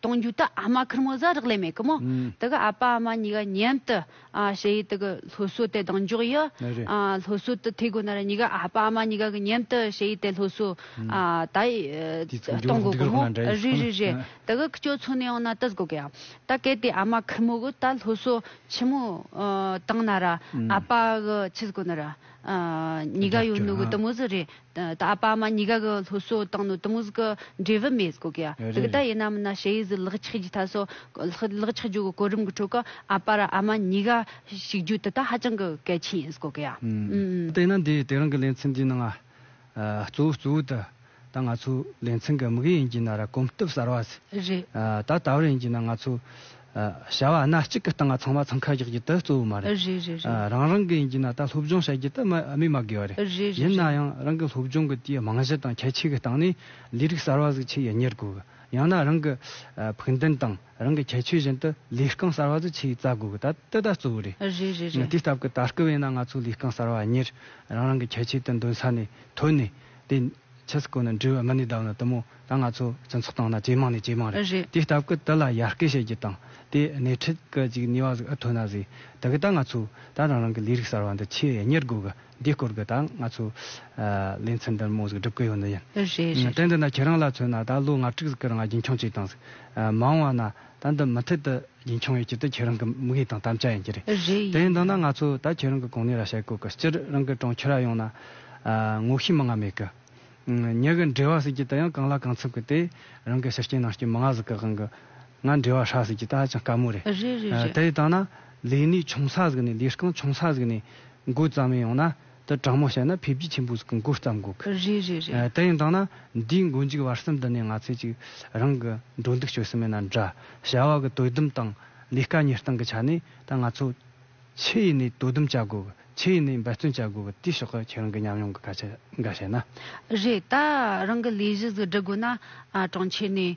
གཏོང་རྒྱུ་དེ་ཨ་མ་ཁིར་མོ་བཟའ་རག་ལས་མེད་གི་མོ། དེ་གི་ཨ་ཕ་ཨ་མ་གཉིས་ཀ་མཉམ་དུ་བྱེད་ཡུལ་དེ་གི་སློབ་གསོ་དེ་གདེང་འཇོག་ཡི། སློབ་གསོ་དེ་ཐེག་དགོས་ན་ར་གཉིས་ཀ་ཨ་ཕ་ཨ་མ་གཉིས་ཀ་གི་མཉམ་དུ་བྱེད་ཡུལ་དེ་སློབ་གསོ་དེ་གཏོང་དགོས་གི་མོ། རེད་རེད་རེད། དེ་གི་ཁྱོད་ཚོ་ནས་ཡང་ན་དེ་དགོས་གི་ཡ། ད་གལ་ཏེ་ཨ་མ་ཁིར་མོ་གི་ད་སློབ་གསོ་ཆེན་མོ་བཏང་ན་ར་ཨ་ཕ་གི་ཆེ་དགོས་ན་ར། གཉིས་ཀ་ཡོད་ནུ་གི་དེ་མོ་ཟི་རེད། ད་ཨ་པཱ་མ་ཉི་ག་གི་ལྷོ་སོ་དང་ནུ་དམུས་ཀི་འབྲས་བུ་མེད་གོ་གི། རེད་རེད་དེ་ལྟ་ཡིན་ནམ་ན་ཤེ་ཡིས་ལག་ཆགས་རྒྱུ་ད་སོ་ལག་ཆགས་རྒྱུ་གི་གོ་རིམ་གི་ཁྲོད་གི་ཨ་པཱ་ར་ཨ་མ་ཉི་ག་ཞིག་རྒྱུ་དེ་དག་ཧ་ཅང་གི་གལ་ཆེན་ཡིན་གོ་གི། དེ་ཡིན་ན་འདིས་དེ་རང་གི་ལེ་ཚན་འདིའི་ནང་གཙོ་བོ་གཙོ་བོ་དེ་ད་ང་ཚོའི་ལེ་ཚན་གི་དམིགས་ཡུལ་ཡིན་གྱི་ན་ར་གོམས་སྟོབས་གསར་བ། རེད། ད་ད་བར་ཡིན་གྱི་ན་ང་ཚོའི་བྱ་བ་སྣ་གཅིག་གི་སྟེང་ང་ཚང་མ་འཚང་ཁ་རྒྱག་རྒྱུ་དེ་གཙོ་བོ་མ་རེད། རེད་རེད་རེད། རང་རང་གི་ཡིན་གྱི་ན་ད་སློབ་སྦྱོང་བྱ་རྒྱུ་དེ་སྨིན་མ་དགོས་བ་རེད། རེད་རེད་ཡིན་ན་རེད། ཡང་རང་གི་སློབ་སྦྱོང་གི་དེའི་རྨང་གཞི་དང་ཁྱད་ཆོས་ཀྱི་སྟེང་ནས་ལས་རིགས་གསར་བ་ཟིག་ཆེད་ཡིན་གཉེར་དགོས་གི། ཡང་ན་རང་གི་ཕུགས་འདུན་དང་རང་གི་ཁྱད་ཆོས་བཞིན་དུ་ལས་རྐང་གསར་བ་ཟིག་ཆེད་རྩ་དགོས་གི་ད་དེ་ད་གཙོ་བོ་རེད། རེད་རེད་རེད། དེའི་སྟབས་ཀྱི་ད་སྐབས་ཡིན་ན་ང་ཚོ་ལས་རྐང་གསར་བ་གཉེར་རང་རང་གི་ཁྱད་ཆོས་དེ་འདོན་ས་ནས་ཐོན་ནས་དེ། ཆོས་སྐུ་ནི་འབྲས་བུ་ལྔ་ནི་བདག་ནི་དུ་མོ་དང་ང་ཚོ་སྤྱི་ཚོགས་སྟེང་ན་ཇེ་མང་ནས་ཇེ་མང་རེད་རེད། དེའི་སྟབས་ཀྱི་དེ་ལ་ཡར་སྐུལ་བྱེད་རྒྱུ་དང་དེ་སྣེ་ཁྲིད་ཀྱི་ཅིག་ནུས་བ་ཟིག་ཨི་ཐོན་ན་ཟིག་ད་གི་ད་ང་ཚོ་ད་རང་རང་གི་ལས་རིགས་གསར་བ་འདི་ཆེས་གཉེར་དགོས་གི་འདི་སྐོར་གྱི་ད་ང་ཚོ་ལས་འཚམས་འདི་མོ་ཟིག་སྒྲུབ་གི་ཡོད་ནི་ཡིན། རེད་རེད་དེ་རེད། འདི་ན་ཁྱེད་རང་ལ་མཚོན་ན་ད་ལོ་ང་དྲུག་ཟིག་གི་རང་རྒྱུན་འཁྱོངས་བྱས་དང་ཟིག་མང་བ་ན་ད་འདི་མུ་མཐུད་དུ། ཉིན་ཆུང་ཡོད་ཀྱི་དུས་ཁྱེད་རང་གི་དམིགས་ཡུལ་དང་དམ་བཅའ་ཡིན་གྱི་རེད། རེད་ཡིན། དེ་ཡིན་ན་ང་ཚོས་ད་ཁྱེད་རང་གི་གོང་ནས་ར་ཤའི་སྐོར་གི་སྤྱིར་རང་གི་གྲོང་ཁྱེར་ར་ཡོངས་ན། ངོ་ཤེས་མི་ང་མེད་གི། ཉི་གི་འབྲེལ་བ་ཟེར་གྱི་དེ་ཡང་གང་ལ་གང་འཚམ་གི་དེ་རང་གི་ཤི་རྐྱེན་ནང་སྐྱེས་མི་ང་ཟིག་གི་དབང་གི། ང་འབྲེལ་བ་ཧྲ་ཟེར་གྱི་དེ་ཧ་ཅང་དཀའ་མོ་རེད། རེད་རེད་རེད། དེ་ཡི་དང་ན་ལས་ནུས་ཆུང་ས་ཟིག་ནས་ལས་རྐང་ཆུང་ས་ཟིག་ནས་འགོས་ཙམ་ཡིན་ཡོང་ན། དུ་དྲང་མོ་བྱས་ན་འཕེལ་རྒྱས་ཆེན་པོ་ཟིག་གི་མགོ་བརྩམ་དགོས་ཀི། རེད་རེད་རེད། དེ་ཡིན་དང་ན་འདིའི་མགོ་མཇུག་བར་གསུམ་དུ་ནས་ང་ཚོས་ཅིག་རང་གི་འགྲོ་འདུག་སྤྱོད་སྲིད་མི་སྣ་འདྲ་བྱ་བ་གི་དོད་དུམ་དང་ལས་ཀ་གཉེར་སྟངས་ཀི་ཆ་ནས་ད་ང་ཚོ་ཕྱི་ཡི་ནས་དོ་དུམ་བྱ་དགོས་ཀི་ཕྱི་ཡི་ནས་འབད་བརྩོན་བྱ་དགོས་ཀི་དེའི་ཕྱོགས་ཀི་ཁྱེད་རང་གི་ཉམས་མྱོང་གི་སྐད་ཆ་འགའ་བཤད་ན། རེད་ད་རང་གི་ལས་གཞི་ཟིག་སྒྲུབ་དགོས་ན་གྲོང་ཁྱེར་ནས་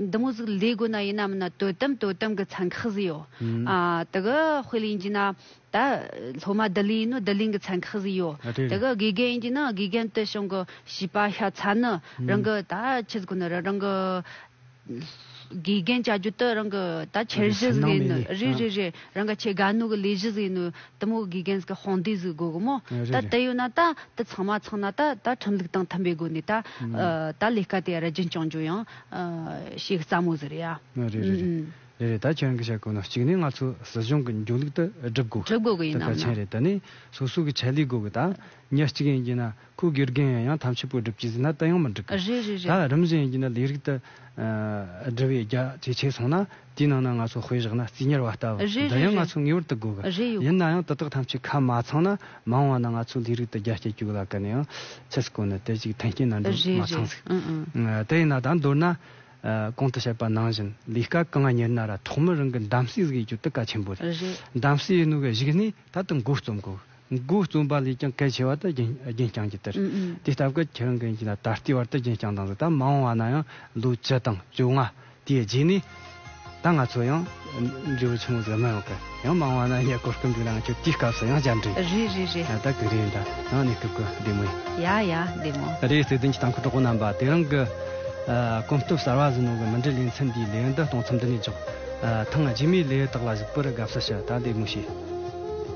འདི་མོ་ཟིག་ལས་དགོས་ན་ཡིན་ནམ་ན་དོད་དམ་དོད་དམ་གི་ཚན་ཁག་ཟིག་ཡོད། དེ་གི་དཔེ་ལ་ཡིན་གྱི་ན་ད་སློབ་མ་བསྡུ་ལེན་ཡིན་ནོ་བསྡུ་ལེན་གི་ཚན་ཁག་ཟིག་ཡོད། དེ་གི་དགེ་རྒན་ཡིན་གྱི་ན་དགེ་རྒན་དུད་ཞིང་གི་བྱིས་པ་ཤ་ཚ་ནི་རང་གི་ད་ཆི་ཟིག་གོ་ནི་རང་གི་དགེ་རྒན་བྱ་རྒྱུ་དི་རང་གི་ད་འཆར་གཞི་ཟིག་ཡིན་ནོ་རེད་རེད་རེད་རང་གི་ཆེ་དགའ་ནུ་གི་ལས་གཞི་ཟིག་ཡིན་ནོ་དེ་མོ་དགེ་རྒན་གྱི་དཔུང་སྡེ་ཟིག་དགོས་གི་མོ་ད་དེ་ཡོད་ན་ད་དེ་ཚང་མ་ཚང་ན་ད་ད་ཁྲིམས་ལུགས་དང་མཐུན་པའི་སྒོ་ནས་ད་ད་ལས་ཀ་དེ་ར་རྒྱུན་བསྐྱང་རྒྱུ་ཡང་བྱེད་གི་རྩ་མོ་ཟེར་ཡ། རེད་རེད་རེད་རེད་རེད་ད་ཁྱེད་རང་གི་བཤད་དགོས་ན་གཅིག་ནས་ང་ཚོ་སྲིད་གཞུང་གི་འཇུག་ལུགས་ད་སྒྲུབ་དགོས་སྒྲུབ་དགོས་གི་ཡིན་ནམ་ན། ད་གལ་ཆེན་རེད་ད་ནས་སོ་སོ་གི་ཆད་ལུས་དགོས་གི་ད་ཉག་གཅིག་ཡིན་གྱི་ན། ཁོའི་དགེ་རྒན་ཡང་ཡང་ཐམས་ཅད་པོ་སྒྲུབ་ཀྱིས་ཟིན་ན་དུ་ཡང་མི་འགྲིག་གི། རེད་རེད་རེད། ད་རིམ་བཞིན་ཡིན་གྱི་ན་ལས་རིགས་དུ། དྲི་བའི་རྒྱ་ཇེ་ཆེ་སོང་ན་དེའི་ནང་ན་ང་ཚོ་དཔེ་བཞག་ན་རྩིས་གཉེར་བ་ལྟ་བུ་རེད་འདི་རེད་ཡང་ང་རེད། ཚོས་ངེས་པར་དུ་དགོས་གི། རེད་ཡོད། ཡིན་ན་ཡང་དེ་དག་ཐམས་ཅད་ཁ་མ་ཚང་ན་མང་བ་ན་ང་ཚོ་ལས་རིགས་དུ་རྒྱ་སྐྱེད་བཅུག་ལ་ག་ནས་ཡང་ཕྱི་སྐོར་ནས་དེ་ཅིག་མཐུན་རྐྱེན་ན་འགྲོ་མ་རེད་ཚང་ཟིག། རེད། དེ་ཡིན་ན་ད་མདོར་ན། གོང་དུ་བཤད་པ་ནང་བཞིན་ལས་ཀ་གང་གཉེར་ན་ར་ཐོག་མར་རང་གི་འདམ་གསེས་ཟིག་ཡོད་རྒྱུ་དེ་གལ་ཆེན་པོ་རེད། རེད། འདམ་གསེས་ཡོད་ནུས་ཀྱི་གཞིགས་ནས་ད་དུ་མགོ་རྩོམ་དགོས། མགོ་རྩོམ་པ་ལས་ཀྱང་གལ་ཆེ་བ་དེ་རྒྱན་རྐྱང་གི་དེར་དེ་ལྟ་བུའི་ཁྱེར་འགན་གྱི་ལ་ད་ལྟའི་བར་དུ་རྒྱན་རྐྱང་དང་ཟླ་མ་འོངས་བ་ན་ཡང་ལོ་བཅུ་དང་བཅོ་ལྔ་དེའི་རྗེས་ནས་ད་ང་ཚོ་ཡང་འབྲས་བུ་ཆུང་ངུ་ཟེར་མི་ཡོང་གི་ཡང་མ་འོངས་བ་ན་ཡང་གོ་སྐབས་འདུག་ལའང་ཁྱོད་དེའི་སྐབས་སུ་ཡང་བཅར་འདྲི། རེད་རེད་རེད། ད་གི་རེད་ད་ཡང་ནས་སྐབས་གི་བདེ་མོ་ཡིན། ཡ་ཡ་བདེ་མོ། རེད་བརྩེ་ལྡན་གྱི་དང་ཁུ་གྲོགས་པོ་རྣམ་པ་དེ་རིང་གི་གོམ་སྟོབས་གསར་བ་ཟིན་ནོ་གི་མི་འབྲི་ལེ་མཚན་འདིའི་ལས་འདི་གཏོང་མཚམས་འདི་ནས་འཇོག། ཐང་རྗེས་མའི་ལས་དག་ལ་གཟིགས་པར་དགའ་བསུ་ཞུ་ད་བདེ་མོ་བྱོས།